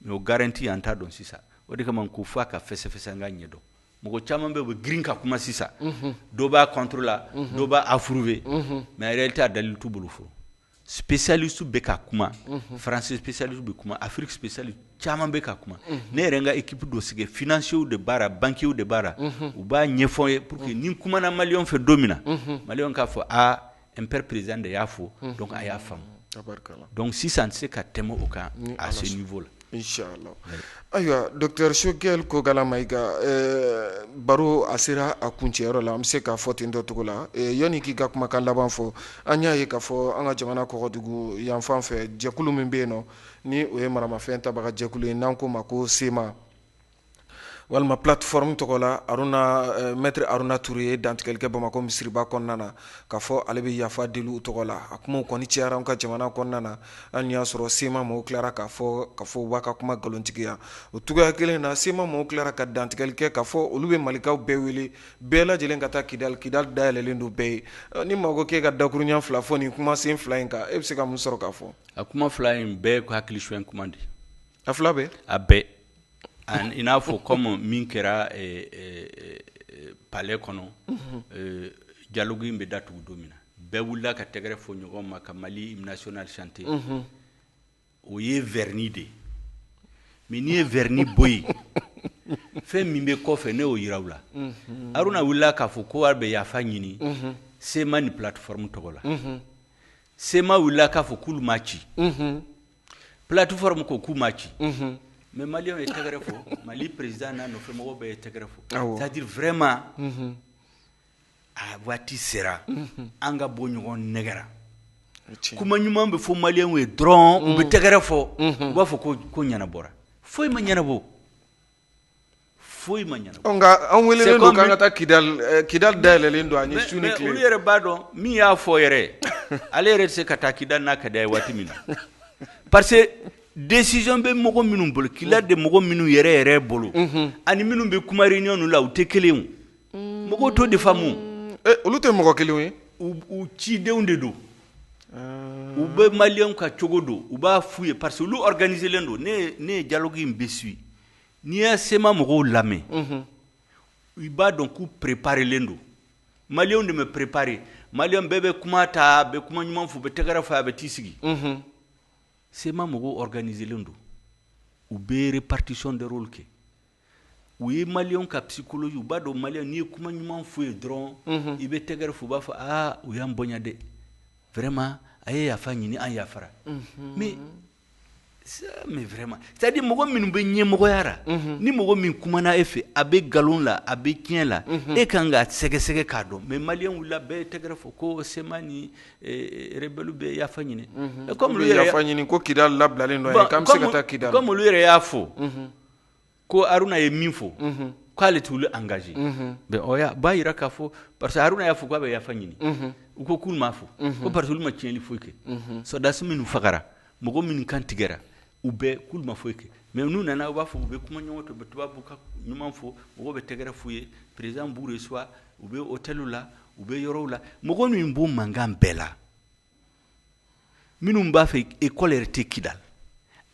mɛ o garanti an t'a dɔn sisan o de kama ko fo a ka fɛsɛfɛsɛ an k'a ɲɛdɔn mɔgɔ caman bɛ u bɛ girin ka kuma sisan dɔ b'a contre la dɔ b'a approuver mɛ en réalité a dalilu t'u bolo fɔ specialiste bɛ ka kuma mhm. français specialiste bɛ kuma Afrique specialiste caman bɛ ka kuma mhm. ne yɛrɛ n ka équipe dɔ sigi financiers de b'a la banquiers de b'a la mhm. u b'a ɲɛfɔ n ye pour que ni n kumana maliyɛnw fɛ don min na maliyɛnw k'a fɔ aa MPR président de y'a fɔ donc a y'a faamu donc sisan n tɛ se ka tɛmɛ o kan à ce niveau la Ayiwa Dr Choguel Kokalla Maïga baro a sera a kuncɛyɔrɔ la an bɛ se k'a fɔ ten dɔ cogo la yanni k'i ka kumakan laban fɔ an y'a ye k'a fɔ an ka jamana kɔgɔdugu yanfan fɛ jɛkulu min bɛ yen nɔ ni o ye maramafɛn tabaga jɛkulu ye n'an k'o ma ko sema walima plateforme tɔgɔ la Aruna euh, maître Aruna Toure ye dantigɛli kɛ Bamakɔ misiriba kɔnɔna na k'a fɔ ale bɛ yafa deli u tɔgɔ la a kumaw kɔni cayara an ka jamana kɔnɔna na hali n'i y'a sɔrɔ sema mɔgɔw tilara k'a fɔ k'a fɔ u b'a ka kuma nkalontigiya o cogoya kelen na sema mɔgɔw tilara ka dantigɛli kɛ k'a fɔ olu bɛ malikaw bɛɛ wele bɛɛ lajɛlen ka taa kidali kidali dayɛlɛlen don bɛɛ ye euh, ni mɔgɔ k'e ka dakurunya fila fɔ nin kumasen fila in kan e bɛ se ka mun sɔrɔ k'a fɔ a kuma fila in bɛɛ hakili suɲɛ kuma de A fila bɛɛ a bɛɛ i n'a fɔ kɔmi min kɛra palɛ kɔnɔ dialogue in bɛ datugu don min na bɛɛ wulila ka tɛgɛrɛ fɔ ɲɔgɔn ma ka mali hymne national chanter o ye vɛrini de ye mɛ n'i ye vɛrini bɔ yen fɛn min bɛ kɔfɛ ne y'o jira aw la aruna wulila k'a fɔ ko a bɛ yafa ɲini sema ni plateforme tɔgɔ la sema wulila k'a fɔ k'olu m'a ci Plateforme ko k'u m'a ci, unhun, mais maliyɛnw ye tɛgɛrɛ fɔ Mali président n'a nɔfɛ mɔgɔw bɛɛ ye tɛgɛrɛ fɔ, awɔ, c'est à dire vraiment unhun, a waati sera an ka bɔ ɲɔgɔn nɛgɛn ra, o ye tiɲɛ ye, kuma ɲuman bɛ fɔ maliyɛnw ye dɔrɔn u bɛ tɛgɛrɛ fɔ u b'a fɔ ko ko ɲɛnabɔra foyi ma ɲɛnabɔ foyi ma ɲɛnabɔ, ɔ nka an welelen don k'an ka taa kidali, kidali dayɛlɛlen don an ye su ni tile, mais olu yɛrɛ b'a dɔn min y'a fɔ yɛrɛ, ale yɛrɛ tɛ se ka taa kidali n'a ka di a ye waati min na parce que décision bɛ mɔgɔ minnu bolo, kidali de mɔgɔ minnu yɛrɛ yɛrɛ bolo, unhun, ani minnu bɛ kuma réunion ninnu na u tɛ kelen ye o mɔgɔw t'o de faamu olu tɛ mɔgɔ kelen ye u cidenw de don u bɛ maliyɛnw ka cogo dɔn u b'a f' u ye parce que olu organiselen don ne ye dialogue in bɛɛ suivre n'i ye sema mɔgɔw lamɛn i b'a dɔn k'u préparelen don maliyɛnw de ma préparer maliyɛn bɛɛ bɛ kuma ta a bɛ kuma ɲuman fɔ u bɛ tɛgɛrɛ fɔ a bɛ t'i sigi sema mɔgɔw organiselen don u bɛ répartition de rôle kɛ u ye maliyɛnw ka psychologie u b'a dɔn maliyɛn n'i ye kuma ɲuman f'u ye dɔrɔn mhm. i bɛ tɛgɛrɛ fɔ u b'a fɔ aa u y'an bonya dɛ vraiment a ye yafa ɲini an yafara mhm. mais mais vraiment c'est à dire mɔgɔ minnu bɛ ɲɛmɔgɔya la mhm. ni mɔgɔ min kumana e fɛ a bɛ nkalon la a bɛ tiɲɛ la e kan ka sɛgɛsɛgɛ k'a dɔn mais maliyɛn wulila bɛɛ ye tɛgɛrɛ fɔ ko sema ni eh, eh, rebɛliw bɛ yafa ɲini comme olu yɛrɛ yafa ɲini ko kidali labilalen don k'an bɛ se ka taa kidali comme olu yɛrɛ y'a fɔ ko haruna ye min fɔ k'ale t'olu engager b'a jira k'a fɔ parce que haruna y'a fɔ k'a bɛ yafa ɲini u ko k'u m'a fɔ ko parce que olu ma tiɲɛnli foyi kɛ sɔrɔdasi minnu fagara mɔgɔ minnu kan tigɛra u bɛɛ k'u ma foyi kɛ mais n'u nana u b'a fɔ u bɛ kuma ɲuman fɔ u bɛ tubabukan ɲuman fɔ mɔgɔw bɛ tɛgɛrɛ f'u ye président b'u reçoit u bɛ hôtelw la u bɛ yɔrɔw la mɔgɔ min b'o mankan bɛɛ la minnu b'a fɛ ekɔli yɛrɛ tɛ kidali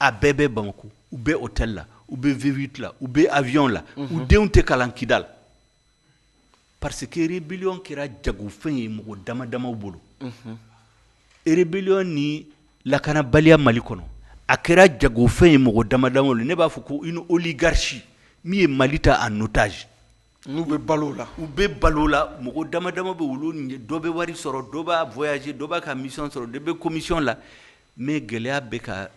a bɛɛ bɛ bamakɔ u bɛ hôtel la u bɛ v8 la u bɛ avion la u mhm. denw tɛ kalan kidali parce que rébellion kɛra jagofɛn ye mɔgɔ dama damaw bolo mhm. rébellion ni lakanabaliya mali kɔnɔ a kɛra jagofɛn ye mɔgɔ dama damaw ne b'a fɔ ko une oligarchie min ye mali ta en otage N'u bɛ balo o la u bɛ balo o la mɔgɔ dama dama bɛ o la dɔ bɛ wari sɔrɔ dɔ b'a voyage dɔ b'a ka mission sɔrɔ dɔ bɛ komisiyɔn la mais gɛlɛya bɛ ka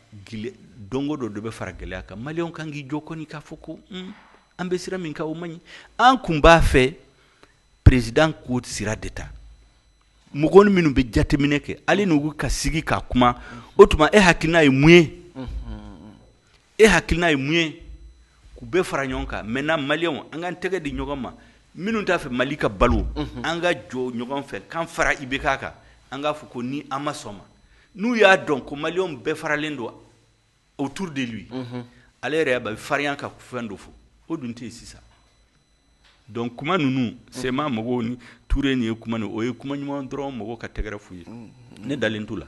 don o don dɔ bɛ fara gɛlɛya kan maliyɛnw kan k'i jɔ kɔni k'a fɔ ko an bɛ sira min kan o man ɲi an kun b'a fɛ président k'o sira de ta mɔgɔ minnu bɛ jateminɛ kɛ ale n'u ka sigi ka kuma o tuma e hakilina ye mun ye e hakilina ye mun ye k'u bɛɛ fara ɲɔgɔn kan maintenant maliyɛnw an k'an tɛgɛ di ɲɔgɔn ma minnu t'a fɛ mali ka balo mhm. an ka jɔ ɲɔgɔn fɛ k'an fara ibk kan an k'a fɔ ko nin an ma sɔn a ma n'u y'a dɔn ko maliyɛnw bɛɛ faralen don autour de lui mhm. ale yɛrɛ bɛ farinya ka fɛn dɔ fɔ o dun tɛ yen sisan Donc kuma ninnu sema mɔgɔw ni tuure nin ye kuma o ye kuma ɲuman dɔrɔn mɔgɔw ka tɛgɛrɛ f'u ye ne dalen t'u la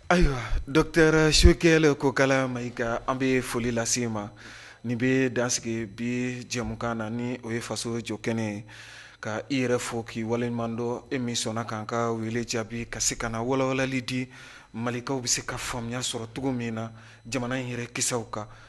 ayiwa docteur choguel kokala maïga an bɛ foli lase i ma nin bɛ dan sigi bi jɛmukan na ni o ye faso jɔ kɛnɛ ye ka i yɛrɛ fo k'i waleɲumandɔn e min sɔnna k'an ka wele jaabi ka se ka na walawalali di malikaw bɛ se ka faamuya sɔrɔ cogo min na jamana in yɛrɛ kiw kan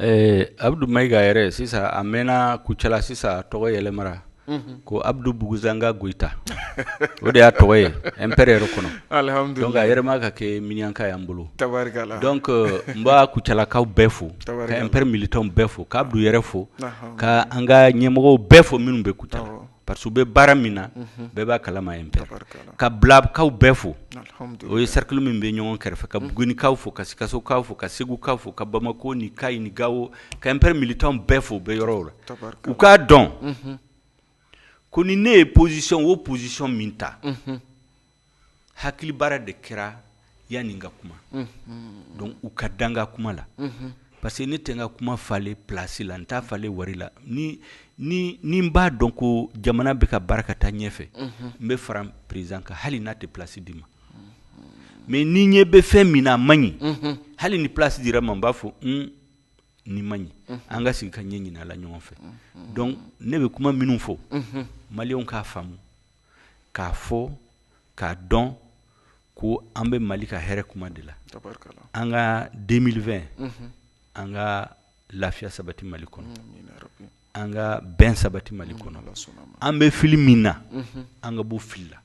Ɛɛ abudu mayiga yɛrɛ sisan a mɛnna kucala sisan a tɔgɔ yɛlɛmara ko abudu buguzanga goyita o de y'a tɔgɔ ye MPR yɛrɛ kɔnɔ donc a yɛrɛma ka kɛ miniyanka y'an bolo tabarikala donc n b'a kucalakaw bɛɛ fo ka MPR militants bɛɛ fo ka abudu yɛrɛ fo ka an ka ɲɛmɔgɔw bɛɛ fo minnu bɛ kucala parce que u bɛ baara min na bɛɛ b'a kalama MPR ka bilakaw bɛɛ fo o ye cercle min bɛ ɲɔgɔn kɛrɛfɛ ka bugunikaw fo ka sikasokaw fo ka segukaw fo ka bamakɔ ni kayi ni gawo ka MPR militants bɛɛ fo u bɛ yɔrɔw la u k'a dɔn ko ni ne ye position o position min ta hakili baara de kɛra yanni n ka kuma donc u ka da n ka kuma la parce que ne tɛ n ka kuma falen plasi la n t'a falen wari la ni n b'a dɔn ko jamana bɛ ka baara ka taa ɲɛfɛ n bɛ fara président kan hali n'a tɛ plasi di n ma mais ni n ɲɛ bɛ fɛn min na a man ɲi hali ni plasi dira n ma n b'a fɔ nin man ɲi an ka sigi ka ɲɛ ɲini a la ɲɔgɔn fɛ donc ne bɛ kuma minnu fɔ maliyɛnw k'a faamu k'a fɔ k'a dɔn ko an bɛ mali ka hɛrɛ kuma de la an ka deux mille vingt an ka lafiya sabati mali kɔnɔ an ka bɛn sabati mali kɔnɔ an bɛ fili min na an ka bɔ fili la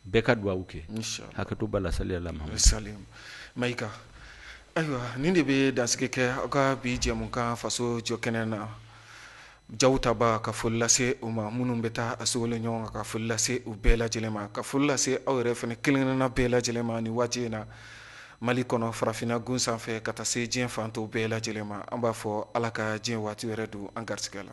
bɛɛ ka dugawu kɛ hakɛto b'a la saliya la mayiga ayiwa nin de bɛ dansigi kɛ aw ka bi jɛmukan faso jɔ kɛnɛ na jaw tabaa ka foli lase u ma minnu bɛ taa a sogolon ɲɔgɔn kan ka foli lase u bɛɛ lajɛlen ma ka foli lase aw yɛrɛ fana kelen-kelenna bɛɛ lajɛlen ma nin waati in na mali kɔnɔ farafinna gun sanfɛ ka taa se diɲɛ fan tɔw bɛɛ lajɛlen ma an b'a fɔ ala ka diɲɛ waati wɛrɛ don an garisɛgɛ la